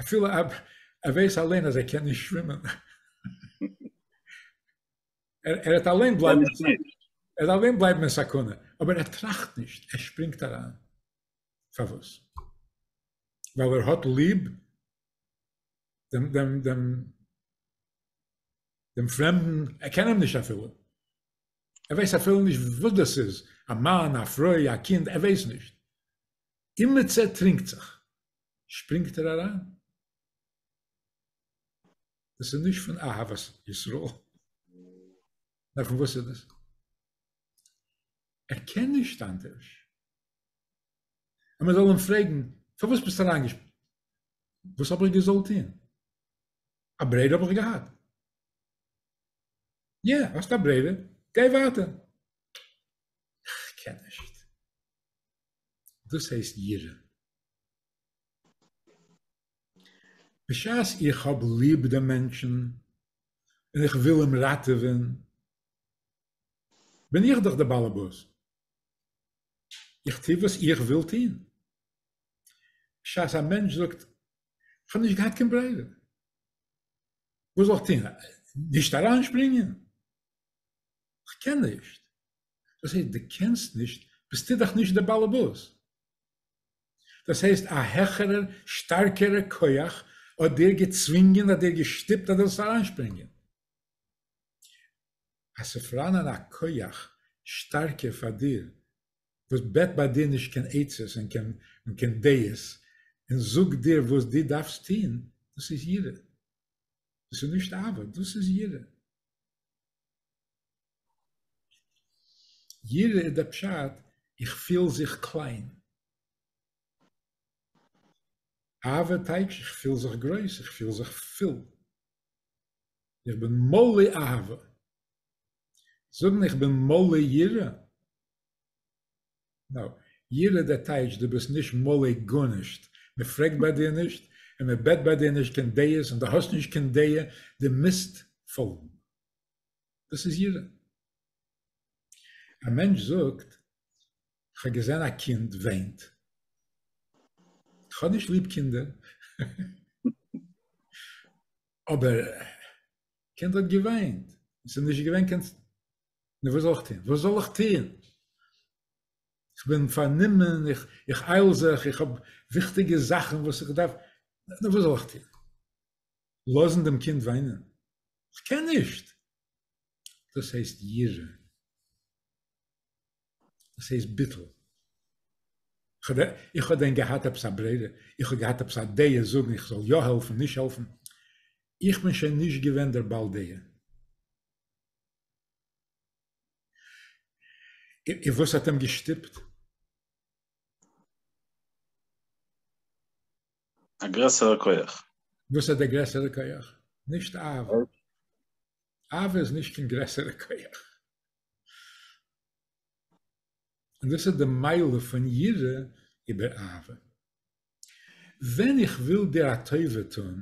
אפילו ער ווייס אליין אז ער קען נישט שווימען. ער וועט אליין בלייבן אין סכנה, אבער ער טראכט נישט, ער שפרינגט אריין. פארוואס? ווייל ער האט ליב דעם פרעמדן, ער קען אים נישט אפילו. ער ווייס אפילו נישט וואס דאס איז, א מאן, א פרוי, א קינד, ער ווייס נישט. אימעצע טרינקט זיך, שפרינגט ער אריין. דאס איז נישט פון אהבת ישראל. נאר פון וואס איז דאס? ער קען נישט אנדערש. און מען זאל אים פרעגן, פארוואס ביסטו אריינגעשפרינגען? וואס האב איך געזאלט טון? א ברירה האב איך געהאט? יא, האסט א ברירה, גיי ווייטער. איך קען נישט. דאס הייסט יראה. בשעת איך האב ליב דעם מענטשן און איך וויל אים ראטעווען, בין איך דאך דער באלעבאס, איך טו וואס איך וויל טון. בשעת א מענטש זאגט, איך האב נישט געהאט קיין ברירה, וואס זאל איך טון, נישט אריינשפרינגען? איך קען נישט. דאס הייסט די קענסט נישט ביסטו דאך נישט די באלעבאס. דאס הייסט א העכערע שטארקערע כח האט דיר געצווינגען האט דיר געשטיפט אז דו זאלסט אריינשפרינגען. אז ס'פראנען א כח שטארקער פאר דיר וואס בעט ביי דיר נישט קיין עצות און קיין און קיין דעות און זאגט דיר וואס דו דארפסט טוהן דאס איז יראה דאס איז נישט אהבה דאס איז יראה. יראה איז דער פשט, איך פיל זיך קליין. אהבה טייטש איך פיל זיך גרויס, איך פיל זיך פול. איך בין מלא אהבה. זאגן איך בין מלא יראה? נאו. יראה דער טייטש דו ביסט נישט מלא גארנישט. מען פרעגט ביי דיר נישט, און מען בעט ביי דיר נישט קיין דעות, און דו האסט נישט קיין דעה, דו מוזט פאלגן. דאס איז יראה. א מענטש זאגט, כ'האב געזען א קינד וויינט. כ'האב נישט ליב קינדער, אבער קינד האט געוויינט, ס'איז נישט געווען קיין, נו וואס זאל איך טון? וואס זאל איך טון? כ'בין פארנומען, איך אייל זיך, איך האב וויכטיגע זאכן וואס איך דארף, נו וואס זאל איך טון? לאזן דעם קינד וויינען, כ'קען נישט! דאס הייסט יראה. דאס הייסט ביטול. איך האב דען געהאט עפעס א ברירה? איך האב געהאט עפעס א דעה זאגן איך זאל יא העלפן נישט העלפן? איך בין שוין נישט געווען דער בעל דעה. און וואס האט אים געשטופט? א גרעסערע כח. וואס איז דער גרעסערע כח? נישט אהבה. אהבה איז נישט קיין גרעסערע כח. און דאס איז די מעלה פון יראה איבער אהבה. ווען איך וויל דיר א טובה טון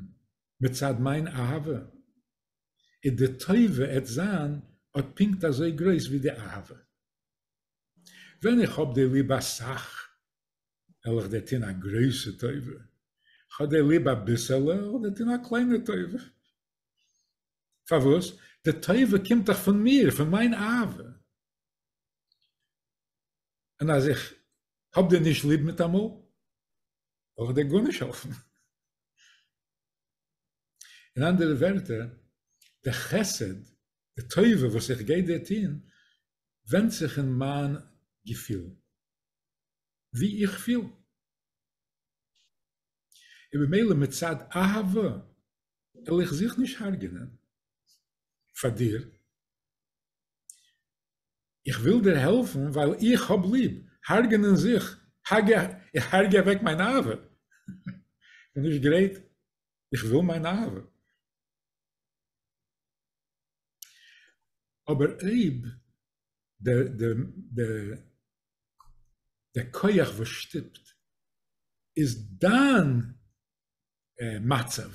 מצד מיין אהבה, איז די טובה עט זיין אט פונקט אזוי גרויס ווי די אהבה. ווען איך האב דיר ליב אסאך, וועל איך דיר טון א גרויסע טובה, כ'האב דיר ליב אביסעלע, וועל איך דיר טון א קליינע טובה. פארוואס? די טובה קומט דאך פון מיר, פון מיין אהבה. און אז איך האב דיר נישט ליב מיטאמאל, וועל איך דיר גארנישט העלפן. אין אנדערע ווערטער, די חסד די טובה וואס איך גיי דיר טוהן ווענדט זיך אין מיין געפילן, ווי איך פיל, און במילא מצד אהבה וועל איך זיך נישט הרג'ענען פאר דיר, איך וויל דיר העלפן ווייל איך האב ליב, הרג'ענען זיך, הגע, איך הרגע אוועק מיין אהבה, איך בין נישט גרייט, איך וויל מיין אהבה. אבער אויב די כח וואס שטופט איז דיין מצב,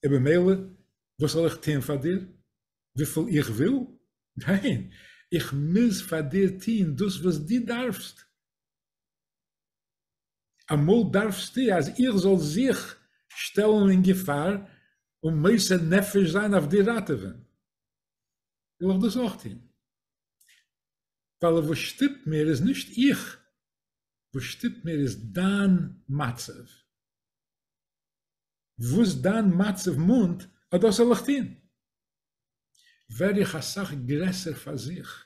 און במילא וואס זאל איך טון פאר דיר? וויפיל איך וויל? ניין, איך מוז פאר דיר טון דאס וואס דו דארפסט. אמאל דארפסטו אז איך זאל זיך שטעלן אין געפאר און מוסר נפש זיין אויף דיר ראטעווען, וויל איך דאס אויך טון. ווייל וואס שטופט מיר איז נישט איך, וואס שטופט מיר איז דיין מצב. וואס דיין מצב מאנט, אט דאס זאל איך טון. ווער איך אסאך גרעסער פאר זיך.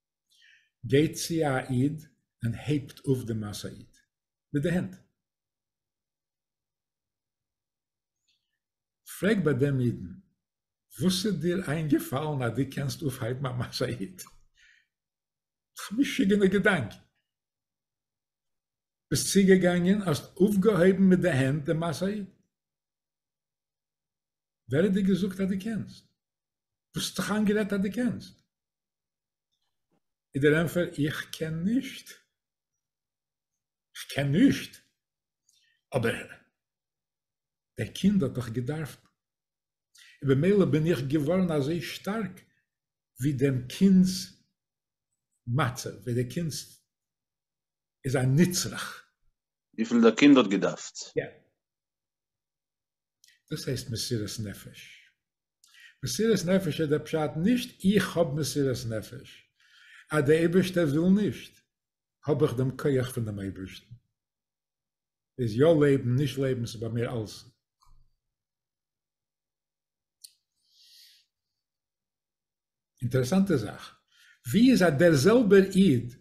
גייט צו א איד און הייבט אויף די משא איד מיט די הענט. פרעג ביי דעם אידן, וואס איז דיר איינגעפאלן אז דו קענסט אויפהייבן א משא איד? א משוגענע געדאנק. ביסט צוגעגאנגען האסט אויפגעהויבן מיט די הענט די משא איד. ווער האט דיר געזאגט אז דו קענסט? וואס האט דיך איינגערעדט אז דו קענסט? איז דער ענפער איך קען נישט. כ'קען נישט. אבער דער קינד האט דאך געדארפט. און במילא בין איך געווארן אזוי שטארק ווי דעם קינד'ס מצב, ווי דער קינד איז א נצרך. וויפיל דער קינד האט געדארפט. יא. דאס הייסט מסירת נפש. מסירת נפש איז דער פשט נישט איך האב מסירת נפש, אז דער אייבערשטער וויל נישט האב איך דעם כח פון דעם אייבערשטן, איז יא לעבן נישט לעבן ס'איז ביי מיר אלס. אינטערעסאנטע זאך, ווי איז אז דער זעלבער איד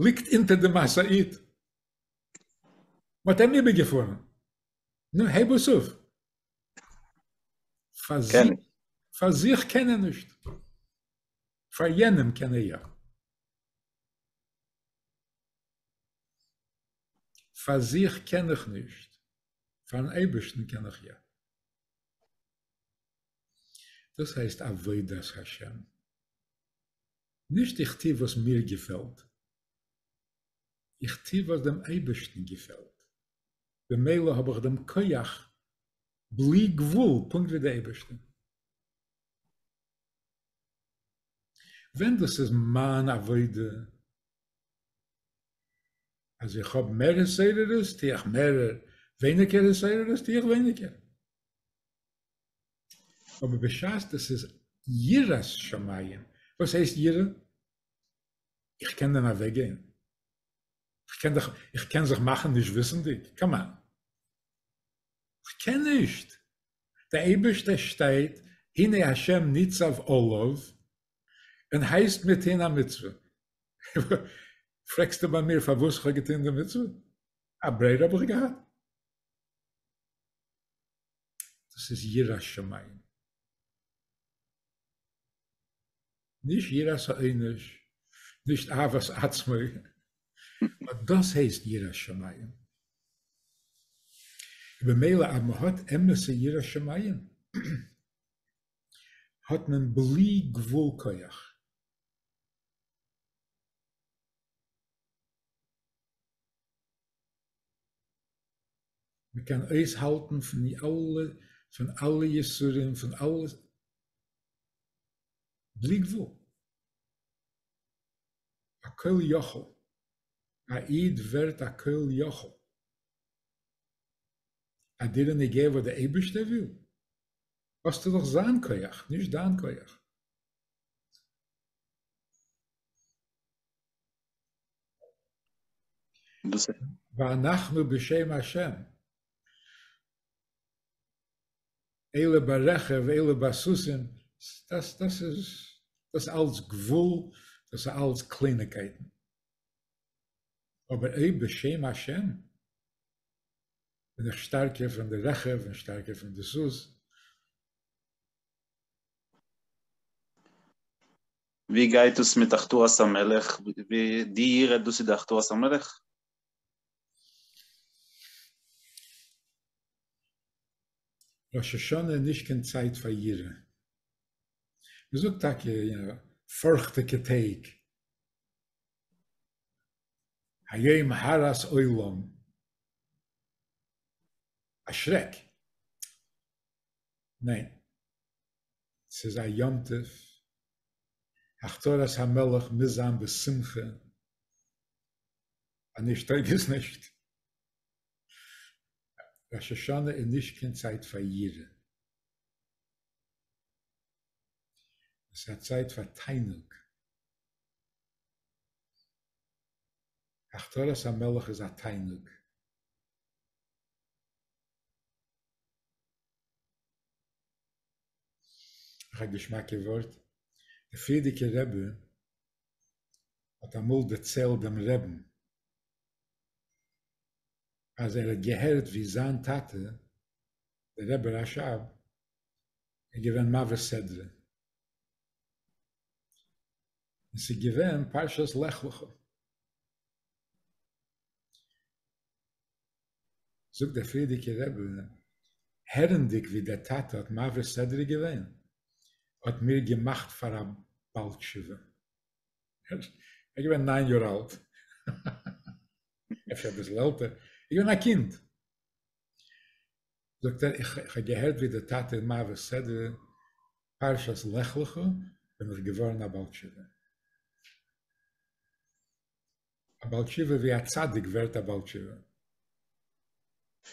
ליגט אונטער די משאית, מ'האט אים איבערגעפארן, נו, הייב עס אויף. פאר זיך, פאר זיך קען ער נישט. פאר יענעם קען ער יא. פאר זיך קען איך נישט. פאר'ן אייבערשטן קען איך יא. דאס הייסט עבודת השם. נישט איך טו וואס מיר געפעלט. איך טו וואס דעם אייבערשטן געפעלט. במילא האב איך דעם כח בלי גבול פונקט ווי די אייבערשטער. ווען דאס איז מיין עבודה, אז איך האב מער התעוררות טו איך מער, ווייניגער התעוררות טו איך ווייניגער. אבער בשעת דאס איז יראת שמים, וואס הייסט יראה? איך קען דען אוועקגיין? איך קען זיך איך קען זיך מאכן נישט וויסנדיג? קאמאן. איך קען נישט. דער אייבערשטער שטייט הנה השם ניצב עליו און הייסט מיר טון א מצוה. פרעגסטו ביי מיר פארוואס איך האב געטון די מצוה? א ברירה האב איך געהאט? דאס איז יראת שמים. נישט יראת העונש, נישט אהבת עצמו, נאר דאס הייסט יראת שמים. במילא אז מ'האט אמת'ע יראת שמים האט מען בלי גבול כח. מ'קען אויסהאלטן פון אלע יסורים, פון אלע בלי גבול. א כל יכול. א איד ווערט א כל יכול. א דיר איז נוגע וואס די אייבערשטער וויל? האסטו דאך זיין כח, נישט דיין כח. ואנחנו בשם השם. אלה ברכב אלה בסוסים, דאס דאס איז דאס אלץ גבול, דאס איז אלץ קלייניגקייטן, אבער אויב בשם השם בין איך שטארקער פון די רכב און שטארקער פון די סוס. ווי גייט עס מיט הכתרת המלך, די יראה דאס איז די הכתרת המלך? ראש השנה איז נישט קיין צייט פאר יראה. מען זאגט טאקע פארכטיגע טעג, היום הרת עולם, א שרעק. ניין, ס'איז א יום טוב, הכתרת המלך מוז זיין בשמחה, אנישט טויג עס נישט. ראש השנה איז נישט קיין צייט פאר יראה, עס איז א צייט פאר תענוג, הכתרת המלך איז א תענוג, נאך א געשמאקע ווארט, די פריערדיגע רבי האט אמאל דערציילט דעם רעבן, אז ער האט געהערט ווי זיין טאטע דער רבי רשב איז געווען מעביר סדרה, און ס'איז געווען פרשת לך לך, זאגט דער פריערדיגער רבי, הערנדיג ווי דער טאטע האט מעביר סדרה געווען, האט מיר געמאכט פאר א בעל תשובה. איך געווען ניין יאר אלט, אפשר אביסל עלטער, איך געווען א קינד. זאגט ער, איך האב געהערט ווי דער טאטע איז מעביר סדר פרשת לך לך, בין איך געווארן א בעל תשובה. א בעל תשובה ווי א צדיק ווערט א בעל תשובה.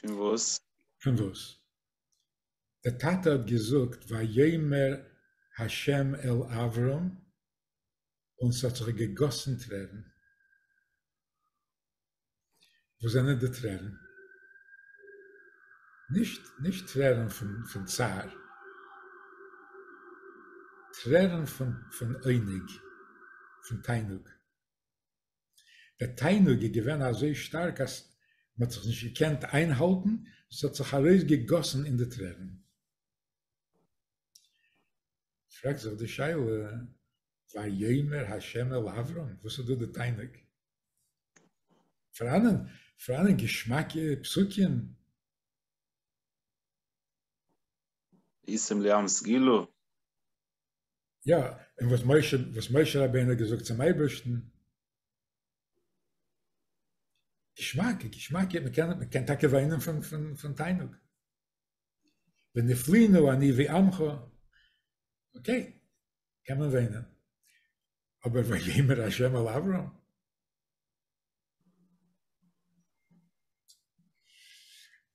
פון וואס? פון וואס? דער טאטע האט געזאגט ויאמר ה' אל אברם און ס'האט זיך געגאסן טרערן, וואס זענען די טרערן? נישט נישט טרערן פון פון צער, טרערן פון פון עונג, פון תענוג. דער תענוג איז געווען אזוי שטארק אז מ'האט זיך נישט געקענט איינהאלטן, ס'האט זיך ארויסגעגאסן אין די טרערן. פרעגט זיך די שאלה, ויאמר ה' אל אברם, וואס איז דא די תענוג? פאראנען פאראנען געשמאקע פסוקים? איסמליאנס גילו? יא, און וואס משה, וואס משה רבינו האט געזאגט צום אייבערשטן, געשמאק, געשמאק, מען קען, מען קען טאקע וויינען פון, פון, פון תענוג. ונפלינו אני ועמך, אוקיי, קען מען וויינען. אבער ויאמר השם אל אברהם,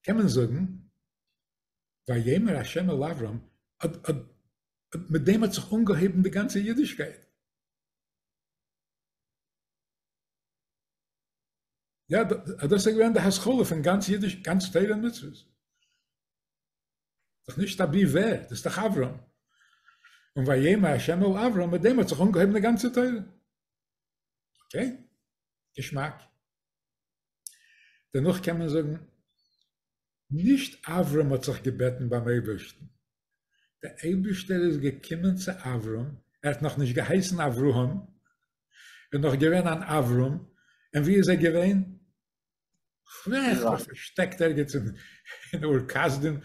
קען מען זאגן, ויאמר ה' אל אברם, מיט דעם האט זיך אנגעהויבן די גאנצע אידישקייט. יא, דאס איז געווען די השכלה פון גאנץ אידיש, גאנץ תורה און מצוות. דאך נישט אבי ווער, דאס איז דאך אברם. און ויאמר ה' אל אברם, מיט דעם האט זיך אנגעהויבן די גאנצע תורה. אוקיי? געשמאק. דערנאך קען מען זאגן, נישט אברם האט זיך געבעטן ביים אייבערשטן, דער אייבערשטער איז געקומען צו אברם, ער האט נאך נישט געהייסן אברהם, ער איז נאך געווען אן אברם, און ווי איז ער געווען? כ'ווער זיך פארשטעקט ערגעץ אין אור כשדים,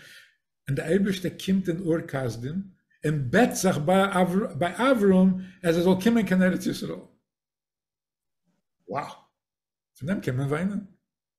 און דער אייבערשטער קומט אין אור כשדים און בעט זיך ביי אברם אז ער זאל קומען קיין ארץ ישראל. וואו! פון דעם קען מען וויינען.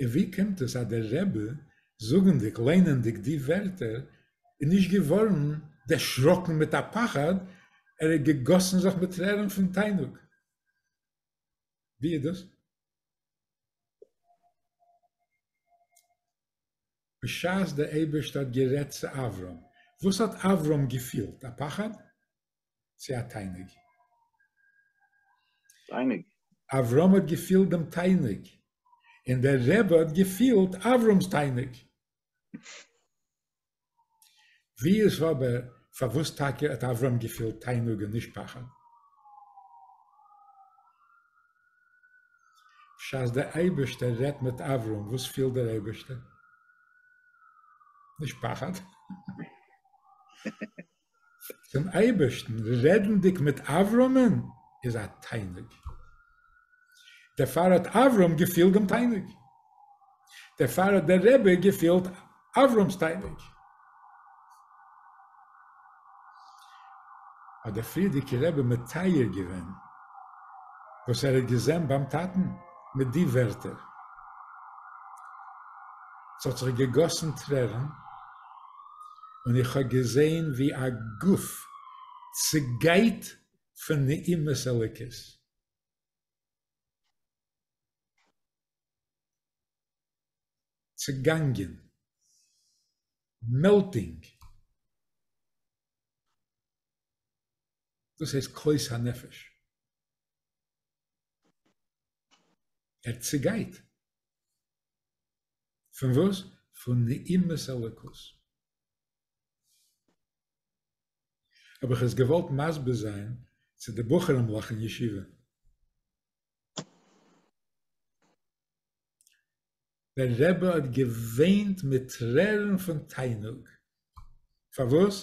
און ווי קומט עס אז דער רבי זאגענדיג ליינענדיג די ווערטער איז נישט געווארען דערשראקען מיט א פחד, ער האט געגאסען זיך מיט טרערען פון תענוג? ווי איז דאס? בשעת דער אייבערשטער האט גערעדט צו אברהם, וואס האט אברהם געפילט? א פחד? צו א תיינוג. תיינוג. אברהם האט געפילט דעם תיינוג, און דער רבי האט געפילט אברהמ'ס תיינוג. ווי איז אבער, פארוואס טאקע האט אברהם געפילט תיינוג און נישט פחד? בשעת דער אייבערשטער רעדט מיט אברהם, וואס פילט דער אייבערשטער? נישט פחד. צום אייבערשטן רעדנדיג מיט אברהמ'ן איז א תענוג, דערפאר האט אברהם געפילט דעם תענוג, דערפאר האט דער רבי געפילט אברהם'ס תענוג. האט דער פריערדיגער רבי מתאר געווען וואס ער האט געזען ביים טאטן מיט די ווערטער, ס'האט זיך געגאסן טרערן, און איך האב געזעהן ווי א גוף צעגייט פון נעימות אלוקית. צעגאנגען. מעלטינג. דאס הייסט כוס הנפש. ער צעגייט. פון וואס? פון נעימות אלוקות. האב איך עס געוואלט מסביר זיין צו די בחורים'לעך אין ישיבה. דער רבי האט געוויינט מיט טרערן פון תענוג. פארוואס?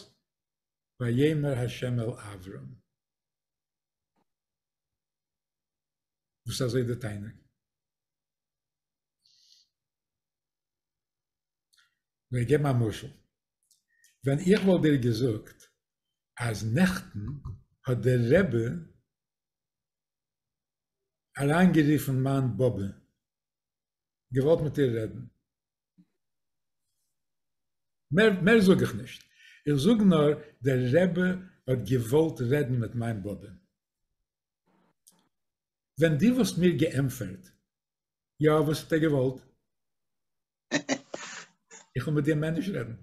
ויאמר ה' אל אברם. וואס אזוי די תענוג? כ'וועל געבן א משל. ווען איך וואלט דיר געזאגט אז נעכטן האט דער רבי אריינגערופן מיין באבע, געוואלט מיט איר רעדן. מער מער זאג איך נישט. איך זאג נאר דער רבי האט געוואלט רעדן מיט מיין באבע. ווען די וואלסט מיר געענפערט יא וואס האט ער געוואלט? איך וויל מיט דיר מעניש רעדן.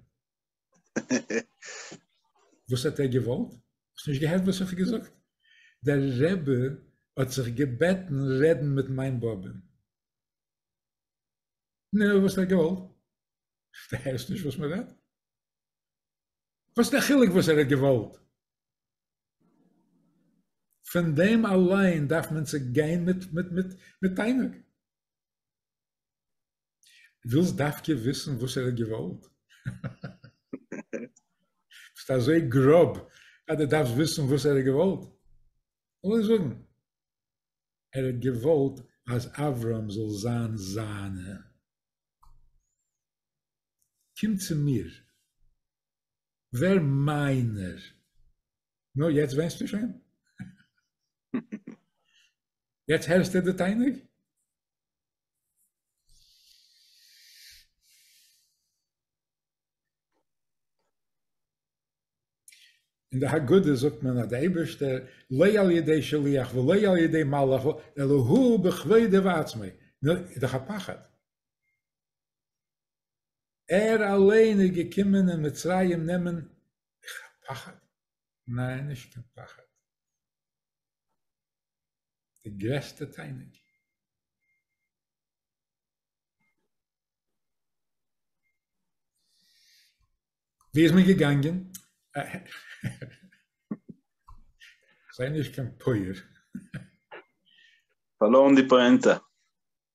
וואס האט ער געוואלט? האסט נישט געהערט וואס איך האב געזאגט? דער רבי האט זיך געבעטן רעדן מיט מיין באבע'ן. נו וואס האט ער געוואלט? דו הערסט נישט וואס מען רעדט? וואס איז די חילוק וואס ער האט געוואלט? פון דעם אליין דארף מען צו גיין מיט תענוג. ווילסט דווקא וויסן וואס ער האט געוואלט? ביסט אזוי גראב אז דו דארפסט וויסן וואס ער האט געוואלט? לאז זאגן. ער האט געוואלט אז אברהם זאל זיין זיינע. קומט צו מיר, ווער מיינער, נו יעצט ווענסטו שוין? יעצט הערסטו די תענוג? אין די הגדה זאגט מען אז די אייבערשטער לא על ידי שליח ולא על ידי מלאך אלא הוא בכבודו ועצמו, נו איז דאך א פחד, ער אליין איז געקומען אין מצרים נעמען, איך האב פחד, ניין נישט קיין פחד, די גרעסטע תענוג, ווי איז מען געגאנגען? זיי נישט קיין פויער. פארלוירן די פאענטע.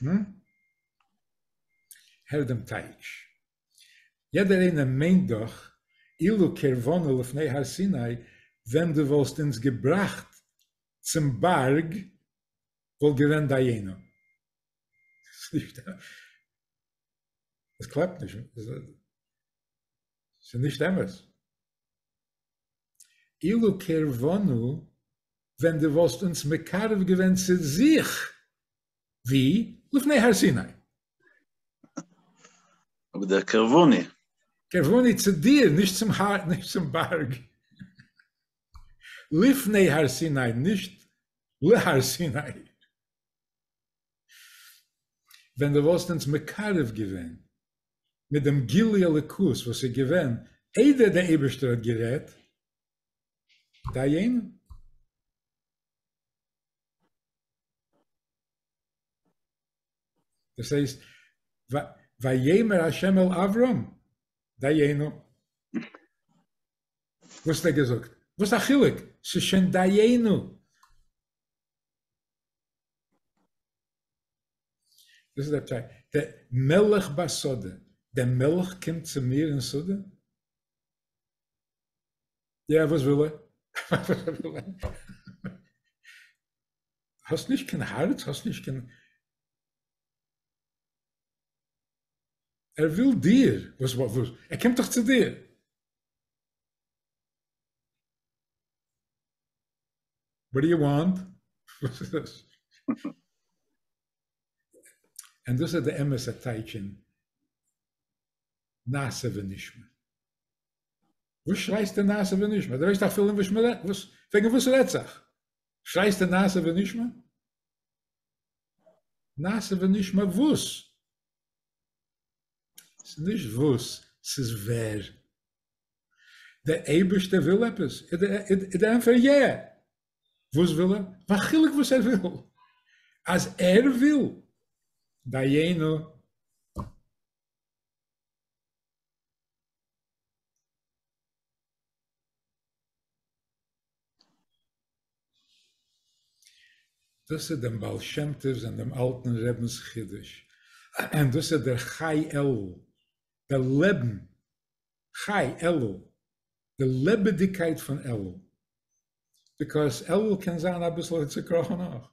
הום? הער דעם טייטש. יעדער איינער מיינט דאך, אילו קרבנו לפני הר סיני, ווען דו וואלסט אונז געבראכט צום בארג, וואלט געווען דיינו. עס קלאפט נישט. עס איז נישט אמת. אילו קרבנו, ווען דו וואלסט אונז מקרב געווען צו זיך, ווי, לפני הר סיני. אבער דער קרבני. קרבני צו דיר, נישט צום הר, נישט צום בארג. לפני הר סיני, נישט להר סיני. ווען דו וואלסט אונז מקרב געווען מיט דעם גילוי אלוקות וואס איז געווען איידער דער אייבערשטער האט גערעדט, דיינו. דאס הייסט, ויאמר ה' אל אברם, דיינו. וואס האט ער געזאגט? וואס א חילוק? ס'איז שוין דיינו. דאס איז דער טשייט. דער מלך ביי סאדע, דער מלך קומט צו מיר אין סאדע? יא, וואס וויל ער? האסט נישט קיין הארץ? האסט נישט קיין... ער וויל דיר! וואס וואס וואס? ער קומט דאך צו דיר! וואט דו יו וואנט? וואס איז דאס? און דאס איז די אמת'ע טייטש אין נעשה ונשמע. וואס שרייסטו נעשה ונשמע? דו ווייסט אפילו נישט וואס מ'רעדט, וואס, וועגן וואס רעדט זיך? שרייסטו נעשה ונשמע? נעשה ונשמע וואס? ס'נישט וואס, ס'איז ווער. דער אייבערשטער וויל עפעס? איז די ענטפער יע! וואס וויל ער? וואס חילוק וואס ער וויל? אז ער וויל, דיינו. דאס איז דעם בעל שם טוב'ס און דעם אלטן רבינ'ס חידוש, און דאס איז דער חי עלול, דער לעבן חי אלול, די לעבעדיגקייט פון אלול, ביקאויס אלול קען זיין אביסל צוקראכן אויך,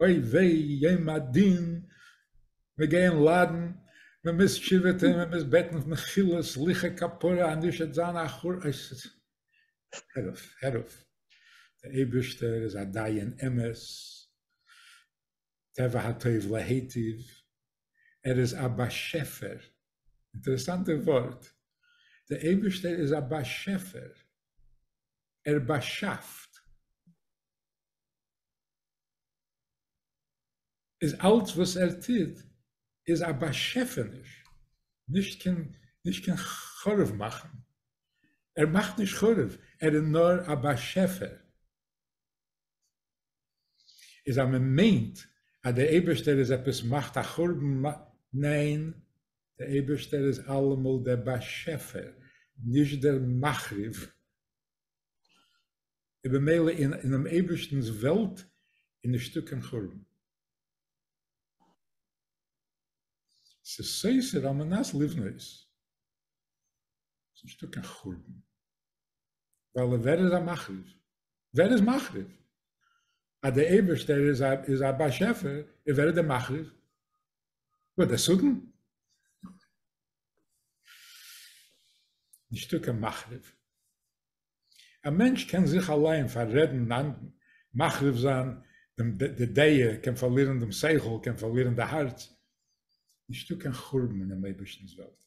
אוי וויי יום הדין, מיר גייען ליידן, מען מוז תשובה טון, מען מוז בעטן מחילה סליחה כפרה אז נישט וועט זיין א חורבן, הער אויף, הער אויף, דער אייבערשטער איז א דיין אמת, טבע הטוב להיטיב, ער איז א באשעפער, אינטערעסאנטע ווארט, דער אייבערשטער איז א באשעפער, ער באשאפט, איז אלץ וואס ער טוט איז א באשעפעניש, נישט קיין חרוב מאכן, ער מאכט נישט חרוב, ער איז נאר א באשעפער. איז אז מען מיינט אז דער אייבערשטער איז עפעס מאכט א חורבן מ. ניין, דער אייבערשטער איז אלעמאל דער באשעפער, נישט דער מחריב. און במילא אינעם אייבערשטנ'ס וועלט איז נישטא קיין חורבן. ס'איז סותר על מנת לבנות. ס'איז נישטא קיין חורבן. ווייל ווער איז א מחריב? ווער איז מחריב? אז דער אייבערשטער איז א איז א באשעפער, און ווער איז דער מחריב? וואס דער שטן? נישטא קיין מחריב. א מענטש קען זיך אליין פאררעדן, מחריב זיין דעם די דעה, קען פארלירן דעם שכל, קען פארלירן די הארץ, נישטא קיין חורבן אינעם אייבערשטנ'ס וועלט.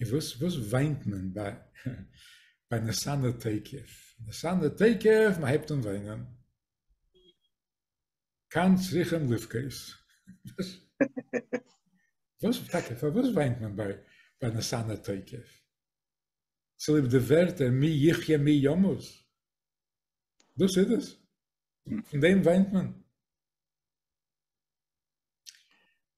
און וואס וואס וויינט מען ביי ביי נסענער תוקף? נסענער תוקף מען הייבט אן וויינען. כאן צריכים לבכות. וואס טאקע פארוואס וויינט מען ביי ביי נסענער תוקף? צוליב די ווערטער מי יחיה מי ימות? דאס איז עס? פון דעם וויינט מען?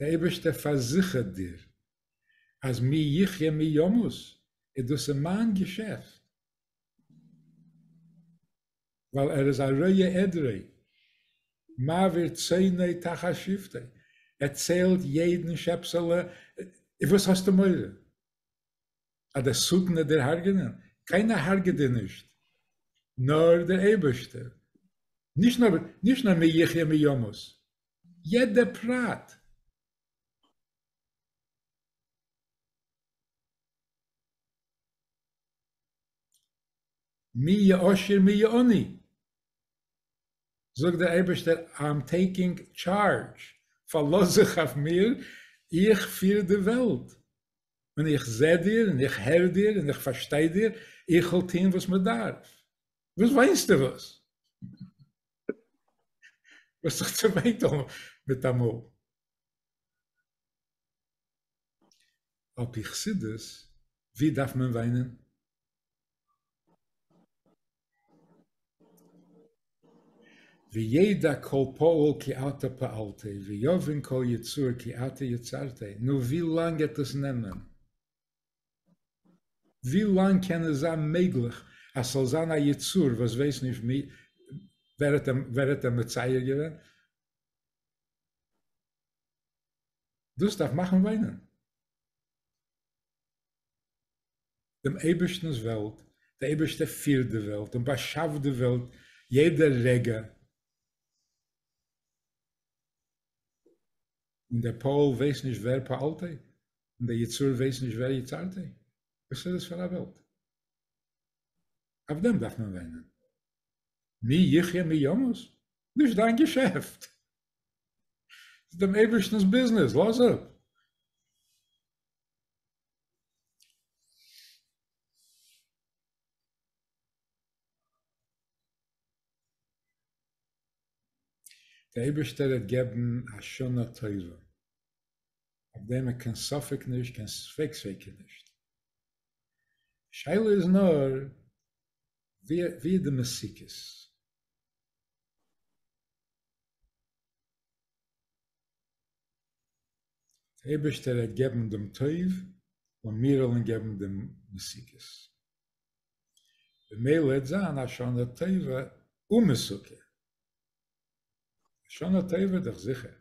דער אייבערשטער פארזיכערט דיר אז מי יחיה מי ימות איז דאס אין מיין געשעפט, ווייל ער איז א רואה עדרי, מעביר צאני תחת שבטי, ער ציילט יעדן שעפסעלע, וואס האסטו מורא? אז די סכנה דער הרגענען, קיינער הרגעט דיר נישט, נאר דער אייבערשטער, נישט נאר נישט נאר מי יחיה מי ימות, יעדע פרט. מי יעשיר מי יעני, זאגט דער אייבערשטער איי עם טעיקינג טשארדזש, פארלאז זיך אויף מיר, איך פיר די וועלט, און איך זע דיר און איך הער דיר און איך פארשטיי דיר, איך וועל טוהן וואס מען דארף. וואס וויינסטו וואס? דו האסט זיך צעוויינט מיטאמאל. על פי חסידות, ווי דארף מען וויינען? וידע כל פועל כי אתה פעלת, ויבין כל יצור כי אתה יצרת, נו ווי לאנג העט עס נעמען? ווי לאנג קען עס זיין מעגליך אז ס'זאל זיין א יצור וואס ווייסט נישט ווער האט אים מצייר געווען? דאס דארף מאכן וויינען. דעם אייבערשטנ'ס וועלט, דער אייבערשטער פירט די וועלט און באשאפט די וועלט יעדע רגע, און דער פועל ווייסט נישט ווער פעלת און דער יצור ווייסט נישט ווער יצרת, וואס איז עס פאר א וועלט? אויף דעם דארף מען וויינען? מי יחיה מי ימות? נישט דיין געשעפט! ס'איז דעם אייבערשטנ'ס ביזנעס, לאז אפ! דער אייבערשטער וועט געבן א שנה טובה, אויף דעם האט קיין ספק נישט, קיין ספק ספיקא נישט, די שאלה איז נאר ווי ווי איז די מסוכות. אייבערשטער ער געבן דעם טוב לאמיר אלען געבן דעם מסוכת במילא העט זיין א שנה טובה ומסוכה שנה טובה איז דאך זיכער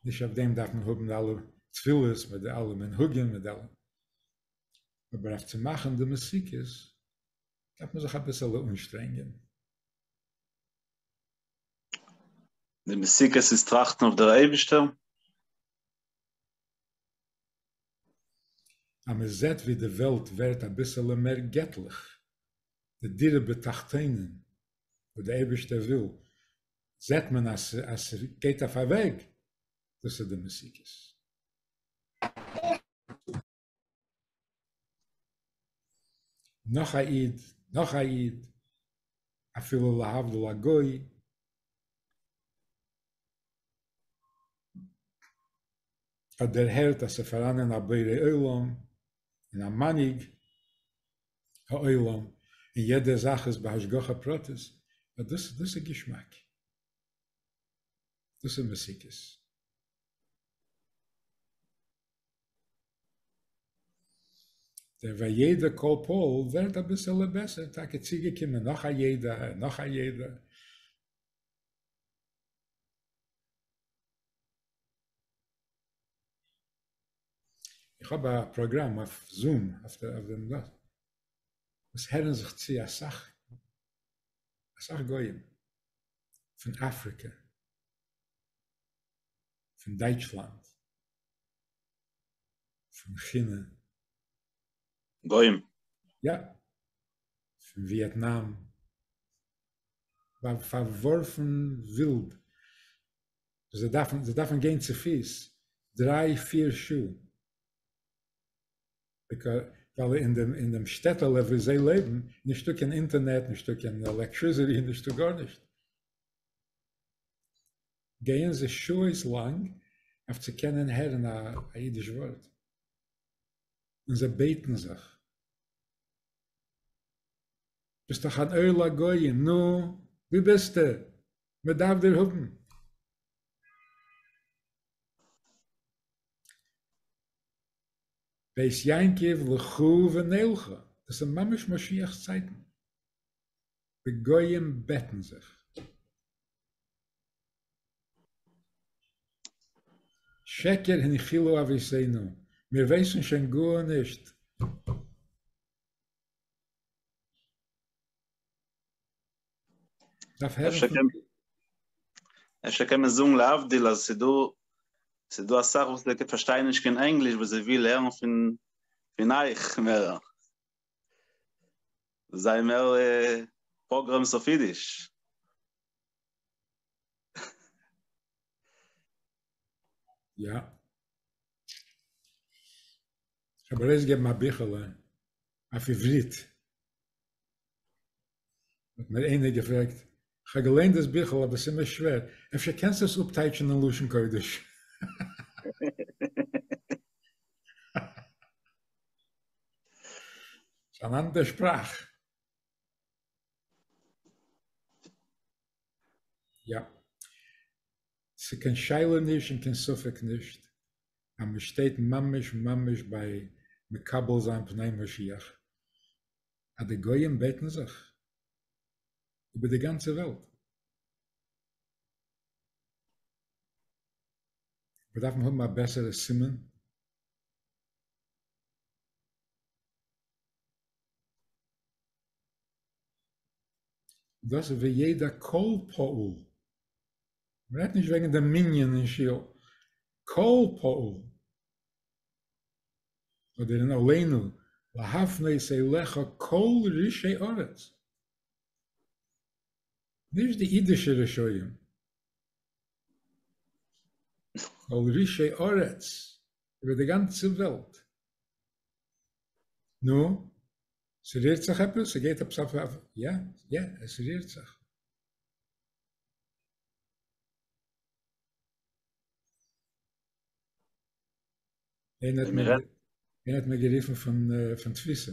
נישט אויף דעם דארף מען האבן די אלע תפילות מיט די אלע מנהגים מיט די אלע אבער אויף צו מאכן די מסוכת דארף מען זיך אביסעלע אנשטרענגען. די מסיק עס איז טראכטן אויף דער אייבישטער. אז מען זעט ווי די וועלט ווערט אביסעלע מער געטליך, די דירה בתחתונים וואס די אייבישטער וויל, זעט מען אז ס'גייט אויף א וועג, דאס איז די מסיק עס. נאך א איד, נאך א איד, אפילו להבדיל א גוי. האט דערהערט אז ס'פאראנען א בורא עולם און א מנהיג העולם און יעדע זאך איז בהשגחה פרטית, אט דאס דאס איז געשמאק. דאס איז מסיקות. דער וידע כל פועל ווערט אביסעלע בעסער, טאקע צוגעקומען נאך א ידע, נאך א ידע. איך האב א פראגראם אויף זום אויף דעם דא, עס הערן זיך צו אסאך אסאך גויים פון אפריקע, פון דייטשלאנד, פון כינע. גוים. יא. פון וויעטנאם. פארווארפן ווילד. זיי דארפן זיי דארפן גיין צופיס דריי פיר שעה. ביק ווייל אין דעם אין דעם שטעטעלע וואו זיי לעבן איז נישטא קיין אינטערנעט נישטא קיין עלעקטריזעטי נישטא גארנישט. גייען זיי שעות לאנג אויף צו קענען הערן א אידיש ווארט, און זיי בעטן זיך, ביסט דאך אן אור לגויים, נו, ווי ביסטו? מען דארף דיר האבן. בית יעקב לכו ונלכו, דאס איז ממש משיח'ס צייטן. די גויים בעטן זיך. שקר הנחילו אביסינו, מיר ווייסן שוין גארנישט. דארף הערן אפשר פון. קען אפשר קען מען זאגן להבדיל אז ס'איז דא ס'איז דא אסאך וואס זיי פארשטייען נישט קיין ענגליש וואס זיי וויל הערן פון פון אייך מער. זיי מער פראגרעמס אויף אידיש. יא. כ'האב ארויסגעגעבן א ביכעלע אויף עברית. האט מיר איינער געפרעגט, כ'האב געליינט דאס ביכל אבער ס'איז מיר שווער, אפשר קענסטו עס אפטייטשן אין לשון קודש? ס'איז אן אנדער שפראך. יא. ס'איז קיין שאלה נישט און קיין ספק נישט אז מ'שטייט ממש ממש ביי מקבל זיין פני משיח. אז די גויים בעטן זיך איבער די גאנצע וועלט. מיר דארפן האבן א בעסערע סימן. דאס וידע כל פאול. מען רעדט נישט וועגן די מנין אין שול. כל פאול. אדער אין עלינו להפנות אליך כל רשעי ארץ, נישט די אידישע רשעים, כל רשעי ארץ, איבער די גאנצע וועלט. נו, ס'רירט זיך עפעס? ס'גייט עפעס אויף אויף? יא, יא, עס רירט זיך. אין האט מיר אין האט מיר געריפן פון פון תפיסה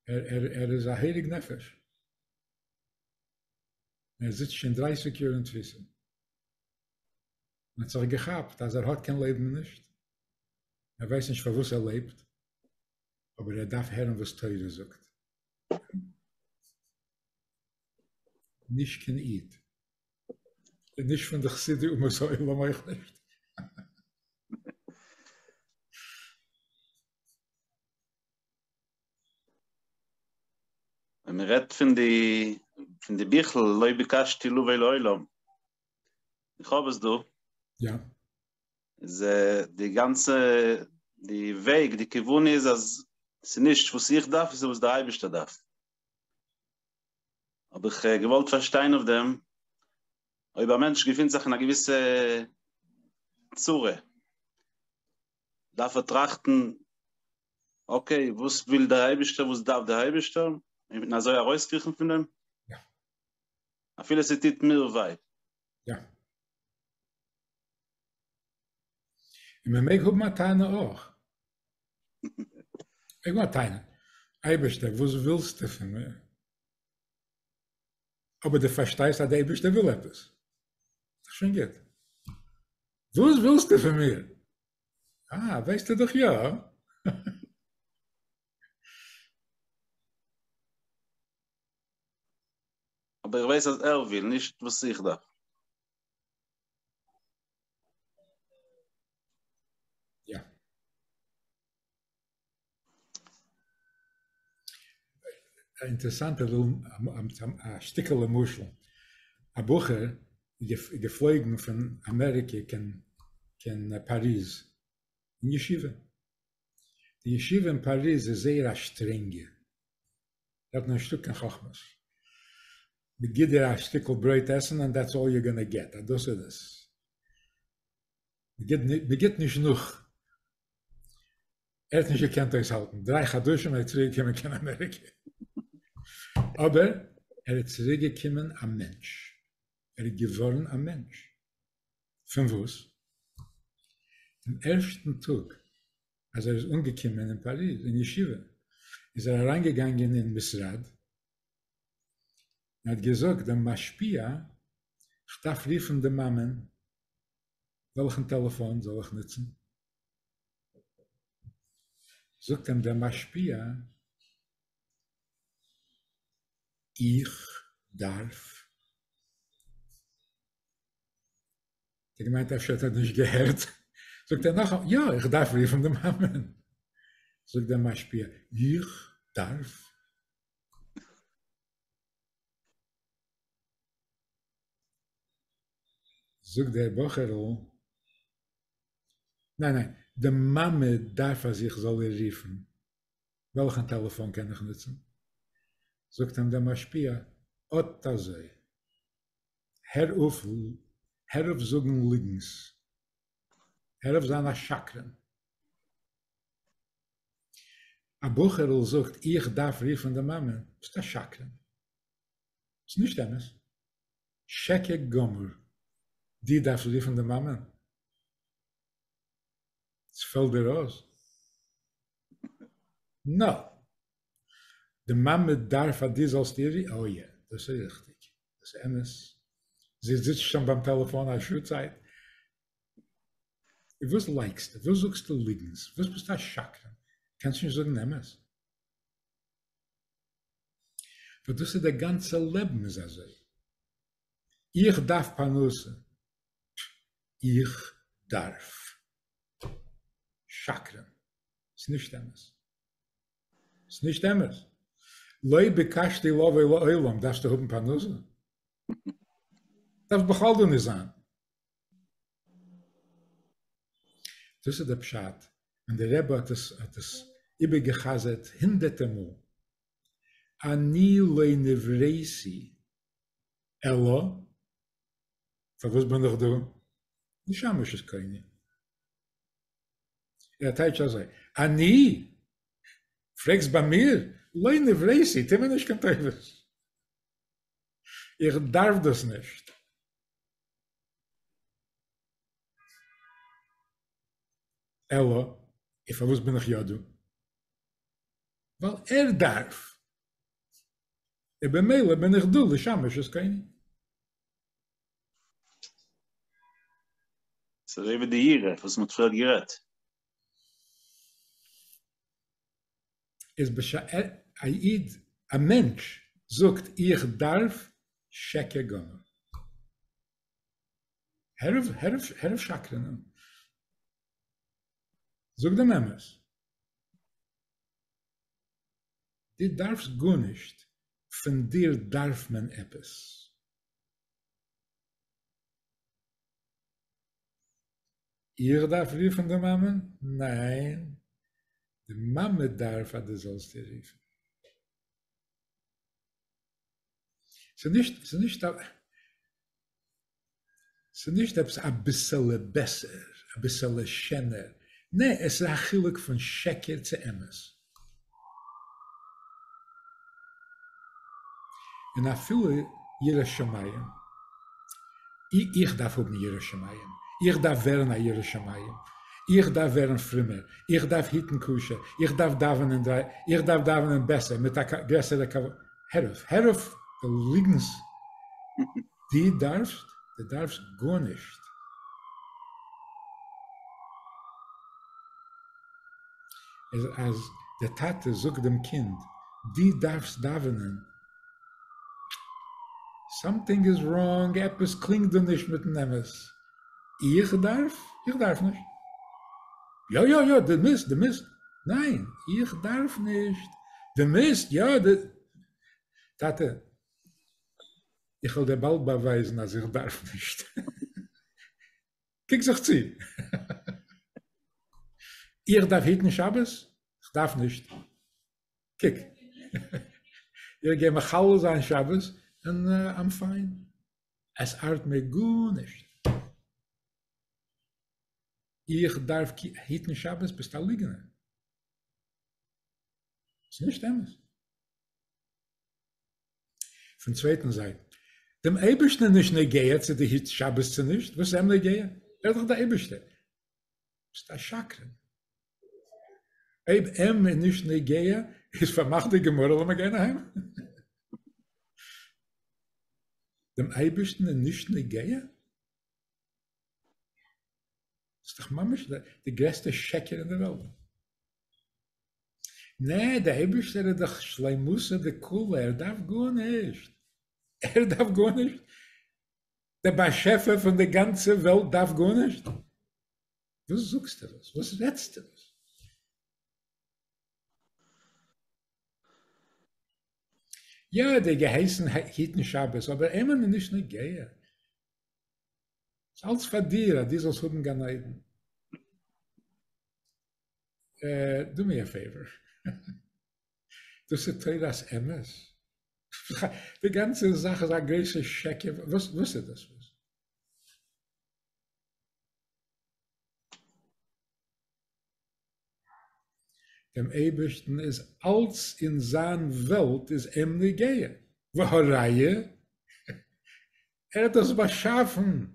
ער ער ער איז א הייליג נפש ער זיצט שוין דרייסיג יאר אין תפיסה מען זאג געכאפט אז ער האט קיין לעבן נישט ער ווייסט נישט פארוואס ער לעבט אבער ער דארף הערן וואס תורה זאגט נישט קיין איד און נישט פון די חסידי אומות העולם אויך נישט. ווען מען רעדט פון די פון די ביכל לא ביקשתי לבוא לעולם, איך האב עס דא. יא. איז די גאנצע די וועג די כיוון איז אז ס'נישט וואס איך דארף, ס'איז וואס דער אייבערשטער דארף. האב איך געוואלט פארשטיין אויף דעם, אויב א מענטש געפינט זיך אין א געוויסע צרה, דארף ער טראכטן, אקעי, וואס וויל דער אייבערשטער, וואס דארף דער אייבערשטער, און אזוי ארויסקריכן פון דעם? אפילו ס'טוט מיר וויי. און מען מעג האבן א טענה אויך. מעג האבן א טענה. אייבערשטער, וואס ווילסטו פון מיר? אבער דו פארשטייסט אז דער אייבערשטער וויל עפעס. ס'איז שוין גוט. וואס ווילסטו פון מיר? אה, ווייסטו דאך יא. אבער איך ווייס אז ער וויל, נישט וואס איך דארף. א אינטערעסאנטע א שטיקעלע משל, א בחור געפלויגן פון אמעריקע קיין פאריז אין ישיבה, די ישיבה אין פאריז איז זייער א שטרענגע, האט מען נישטא קיין חכמות. מען גיט דיר א שטיקל ברויט עסן ענד דעטס אלל יו גאנא געט, אז דאס איז עס. מען גיט נישט נאך. ער האט נישט געקענט אויסהאלטן, דריי חדשים ער איז צוריק געקומען קיין אמעריקע. אבער ער איז צוריק געקומען א מענטש. ער איז געווארן א מענטש. פון וואס? פון ערשטן טאג אז ער איז אנגעקומען אין פאריז אין ישיבה איז ער אריין געגאנגען אין משרד און האט געזאגט דעם משפיע כ'דארף רופן די מאמען וועלכן טעלעפאן זאל איך נוצן? זאגט אים דער משפיע איך דארף האט ער געמיינט אפשר האט ער נישט געהערט, זאגט ער נאכאמאל יא איך דארף רופן די מאמען, זאגט דער משפיע איך דארף? זאגט דער בחור'ל ניין ניין די מאמע דארף אז איך זאל איר רופן, וועלכן טעלעפאן קען איך נוצן? זאגט אים דער משפיע אט אזוי הער אויף הער אויף זאגן ליגנס, הער אויף זיין א שקרן. א בחור'ל זאגט איך דארף רופן די מאמע, ביסט א שקרן, ס'איז נישט אמת, שקר גמור, דו דארפסט רופן די מאמע? ס'פעלט דיר אויס? נאופ! די מאמע דארף אז דו זאלסט איר, אוי יא, דאס איז ריכטיג, דאס איז אמת, זי זיצט שוין ביים טעלעפאן א שעה צייט, וואס לייקסטו, וואס זאגסטו ליגנס, וואס ביסטו א שקרן, קענסט נישט זאגן אמת? וואס דאס איז דער גאנצער לעבן איז אזוי, איך דארף פרנסה, איך דארף, שקרן, ס'איז נישט אמת. ס'איז נישט אמת. לא ביקשתי לבוא לעולם, דארפסטו האבן פרנסה? דארף בכלל דא נישט זיין. דאס איז דער פשט, און דער רבי האט עס האט עס איבערגע'חזר'ט הונדערטער מאל, אני לא נבראתי אלא, פארוואס בין איך דא? נשמה שזקנה. ער טייטש אזוי, אני? פרעגסט ביי מיר? לא נבראתי, טו מיר נישט קיין טובות. איך דארף דאס נישט. אלא, און פארוואס בין איך יא דא? ווייל ער דארף. און במילא בין איך דא לשמש את קוני. ס'אזוי ווי די ירח וואס מען האט פריער גערעדט. איז בשעת א איד, א מענטש, זאגט איך דארף שקע גמור. הער אויף הער אויף הער אויף שקרענען. זאג דעם אמת. דו דארפסט גארנישט, פון דיר דארף מען עפעס. איך דארף רופן די מאמע? ניין, די מאמע דארף אז דו זאלסט איר רופן. ס'איז נישט, ס'איז נישט א, ס'איז נישט עפעס אביסעלע בעסער, אביסעלע שענער, נע, עס איז א חילוק פון שקר צו אמת. און אפילו ירא שמים, איך דארף האבן ירא שמים, איך דארף ווערן א ירא שמים, איך דארף ווערן פרומער, איך דארף היטן קשר, איך דארף דאווענען דרײַ, איך דארף דאווענען בעסער, מיט א גרעסערע כבוד, הער אויף, הער אויף די ליגנס, דו דארפסט, דו דארפסט גארנישט. איז אז די טאטע זאגט דעם קינד די דארפסט דאווענען, סאמטינג איז ראנג, עפעס קלינגט דא נישט מיטן אמת, איך דארף? איך דארף נישט. יא יא יא די מוזט די מוזט, ניין איך דארף נישט, די מוזט יא די, טאטע איך וועל דיר באלד באווייזן אז איך דארף נישט. קוק זיך צו. איך דארף היטן שבת? איך דארף נישט. קוק. איך גיי מחלל זיין שבת און איים פיין. עס ארט מיר גארנישט. איך דארף היטן שבת? ביסט א ליגענער. ס'נישט אמת. פון צווייטן זייט, דעם אייבערשטן איז נישט נוגע צו דו היטסט שבת צו נישט, וואס איז אים נוגע? ער איז דאך דער אייבערשטער. ביסט א שקרן. אויב אים איז נישט נוגע, איז פארמאכט די גמרא, לאמיר גיין אהיים. דעם אייבערשטן איז נישט נוגע? דאס איז דאך ממש די גרעסטע שקר אין דער וועלט. נע, דער אייבערשטער איז דאך שלימותא דכולא, ער דארף גארנישט, ער דארף גארנישט, דער באשעפער פון די גאנצע וועלט דארף גארנישט? וואס זאגסטו דאס? וואס רעדסטו דאס? יא, ער האט געהייסן היטן שבת, אבער אים איז נישט נוגע, ס'איז אלץ פאר דיר, אז דו זאלסט האבן גן עדן. דו מיר א פעיווער, דאס איז תורת אמת? די גאנצע זאך איז א גרויסע שקר, וואס איז דאס? דעם אייבערשטן איז אלץ אין זיין וועלט איז אים נוגע, והא ראיה ער האט דאס באשאפן,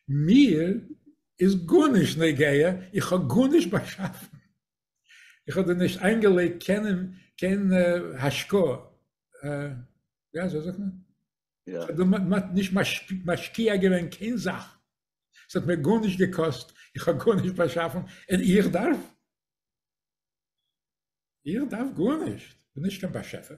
מיר איז גארנישט נוגע, איך האב גארנישט באשאפן, איך האב דא נישט איינגעלייגט קיין השקעה, יא אזוי זאגט מען? כ'האב נישט משקיע געווען קיין זאך, ס'האט מיר גארנישט געקאסט, איך האב גארנישט באשאפן, און איך דארף? איך דארף גארנישט, כ'בין נישט קיין באשעפער.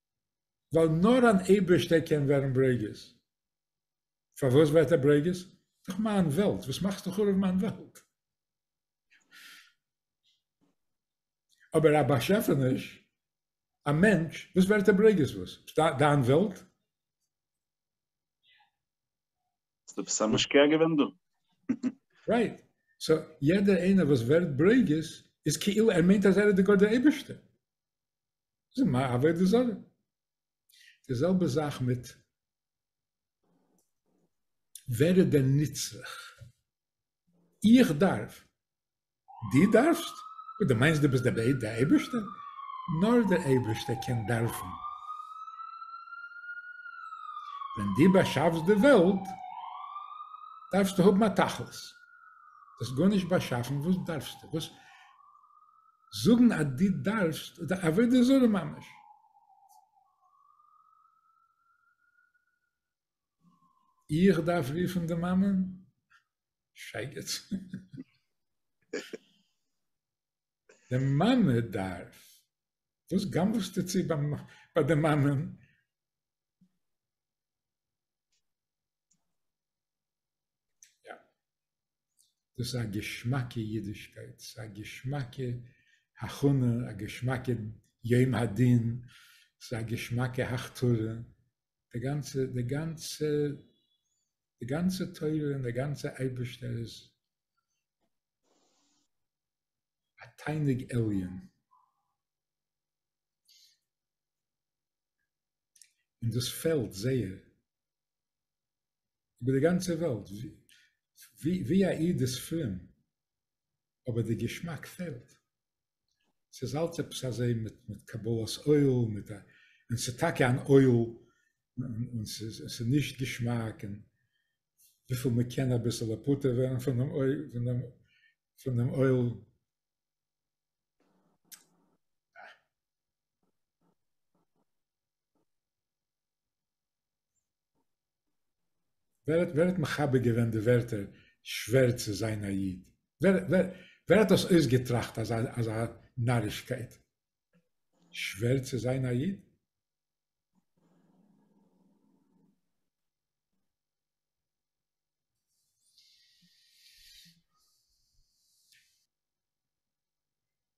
ווייל נאר אן אייבערשטער קען ווערן ברוגז. פארוואס ווערט ער ברוגז? דאך מיין וועלט, וואס מאכסטו חרוב מיין וועלט? אבער א באשעפעניש, א מענטש, וואס ווערט ער ברוגז? וואס? דיין וועלט? האסט עפעס א משקיע געווען דא? רייט. סאו יעדער איינער וואס ווערט ברוגז איז כאילו ער מיינט אז ער איז דער גאט דער אייבערשטער. זיי מע אַוועק די זאָגע. די זעלבע זאַך מיט ווער איז דער נצרך? איך דאַרף, דו דאַרפסט, און דו מיינסט דו ביסט דער בעט דער אייבערשטער? נאָר דער אייבערשטער קען דאַרפן. ווען דו באַשאַפסט די וועלט, דאַרפסטו האָבן אַ תכלית. דו האָסט גאָרנישט באַשאַפן, וואָס דאַרפסטו? וואָס? זאגן אז דו דארפסט איז א עבודה זרה ממש. איך דארף רופן די מאמען? שייגעץ. די מאמע דארף. וואס גנב'סטו צו ביי די מאמען? יא. דאס איז א געשמאקע אידישקייט, ס'איז א געשמאקע הכנה, א געשמאקע יום הדין, ס'איז א געשמאקע הכתרה, די גאנצע, די גאנצע, די גאנצע תורה און די גאנצע אייבערשטער איז א תענוג עליון. און דאס פעלט זייער איבער די גאנצע וועלט, ווי א איד איז פרום, אבער די געשמאק פעלט. ס'איז אלץ עפעס אזוי מיט מיט קבלת עול, מיט א, און ס'איז טאקע אן עול, און ס'איז נישט געשמאק, און וויפיל מען קען אביסעלע פטור ווערן פון דעם עול, פון דעם, פון דעם עול. ווער האט ווער האט מחבר געווען די ווערטער שווער צו זיין א איד? ווער ווער ווער האט דאס אויסגעטראכט אזא אזא נארישקייט? שווער צו זיין א איד?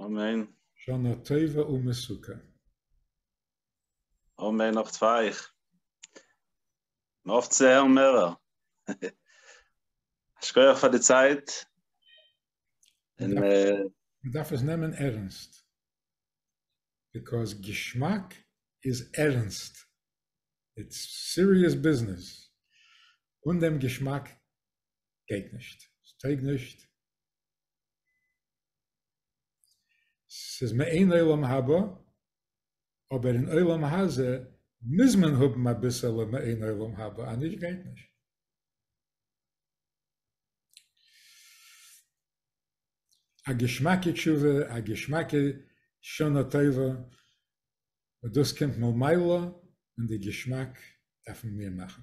אמן. שנה טובה ומסוכם. אמן נאך צוויי. מ'האפט צו הערן מערער. א שכח פאר די צייט. און אה. מ'דארף עס נעמען ערענסט. ביקאויז געשמאק איז ערענסט. איטס סיריעס ביזנעס. אן דעם געשמאק גייט נישט. ס'טויג נישט. ס'איז מעין עולם הבא, אבער אין עולם הזה מוז מען האבן אביסעלע מעין עולם הבא, אניש גייט נישט. א געשמאקע תשובה, א געשמאקע שנה טובה, און דאס קומט ממילא און די געשמאק דארפן מיר מאכן.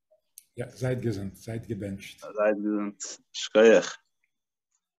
יא, זייט געזונט, זייט געבענטשט. זייט געזונט, שכוח.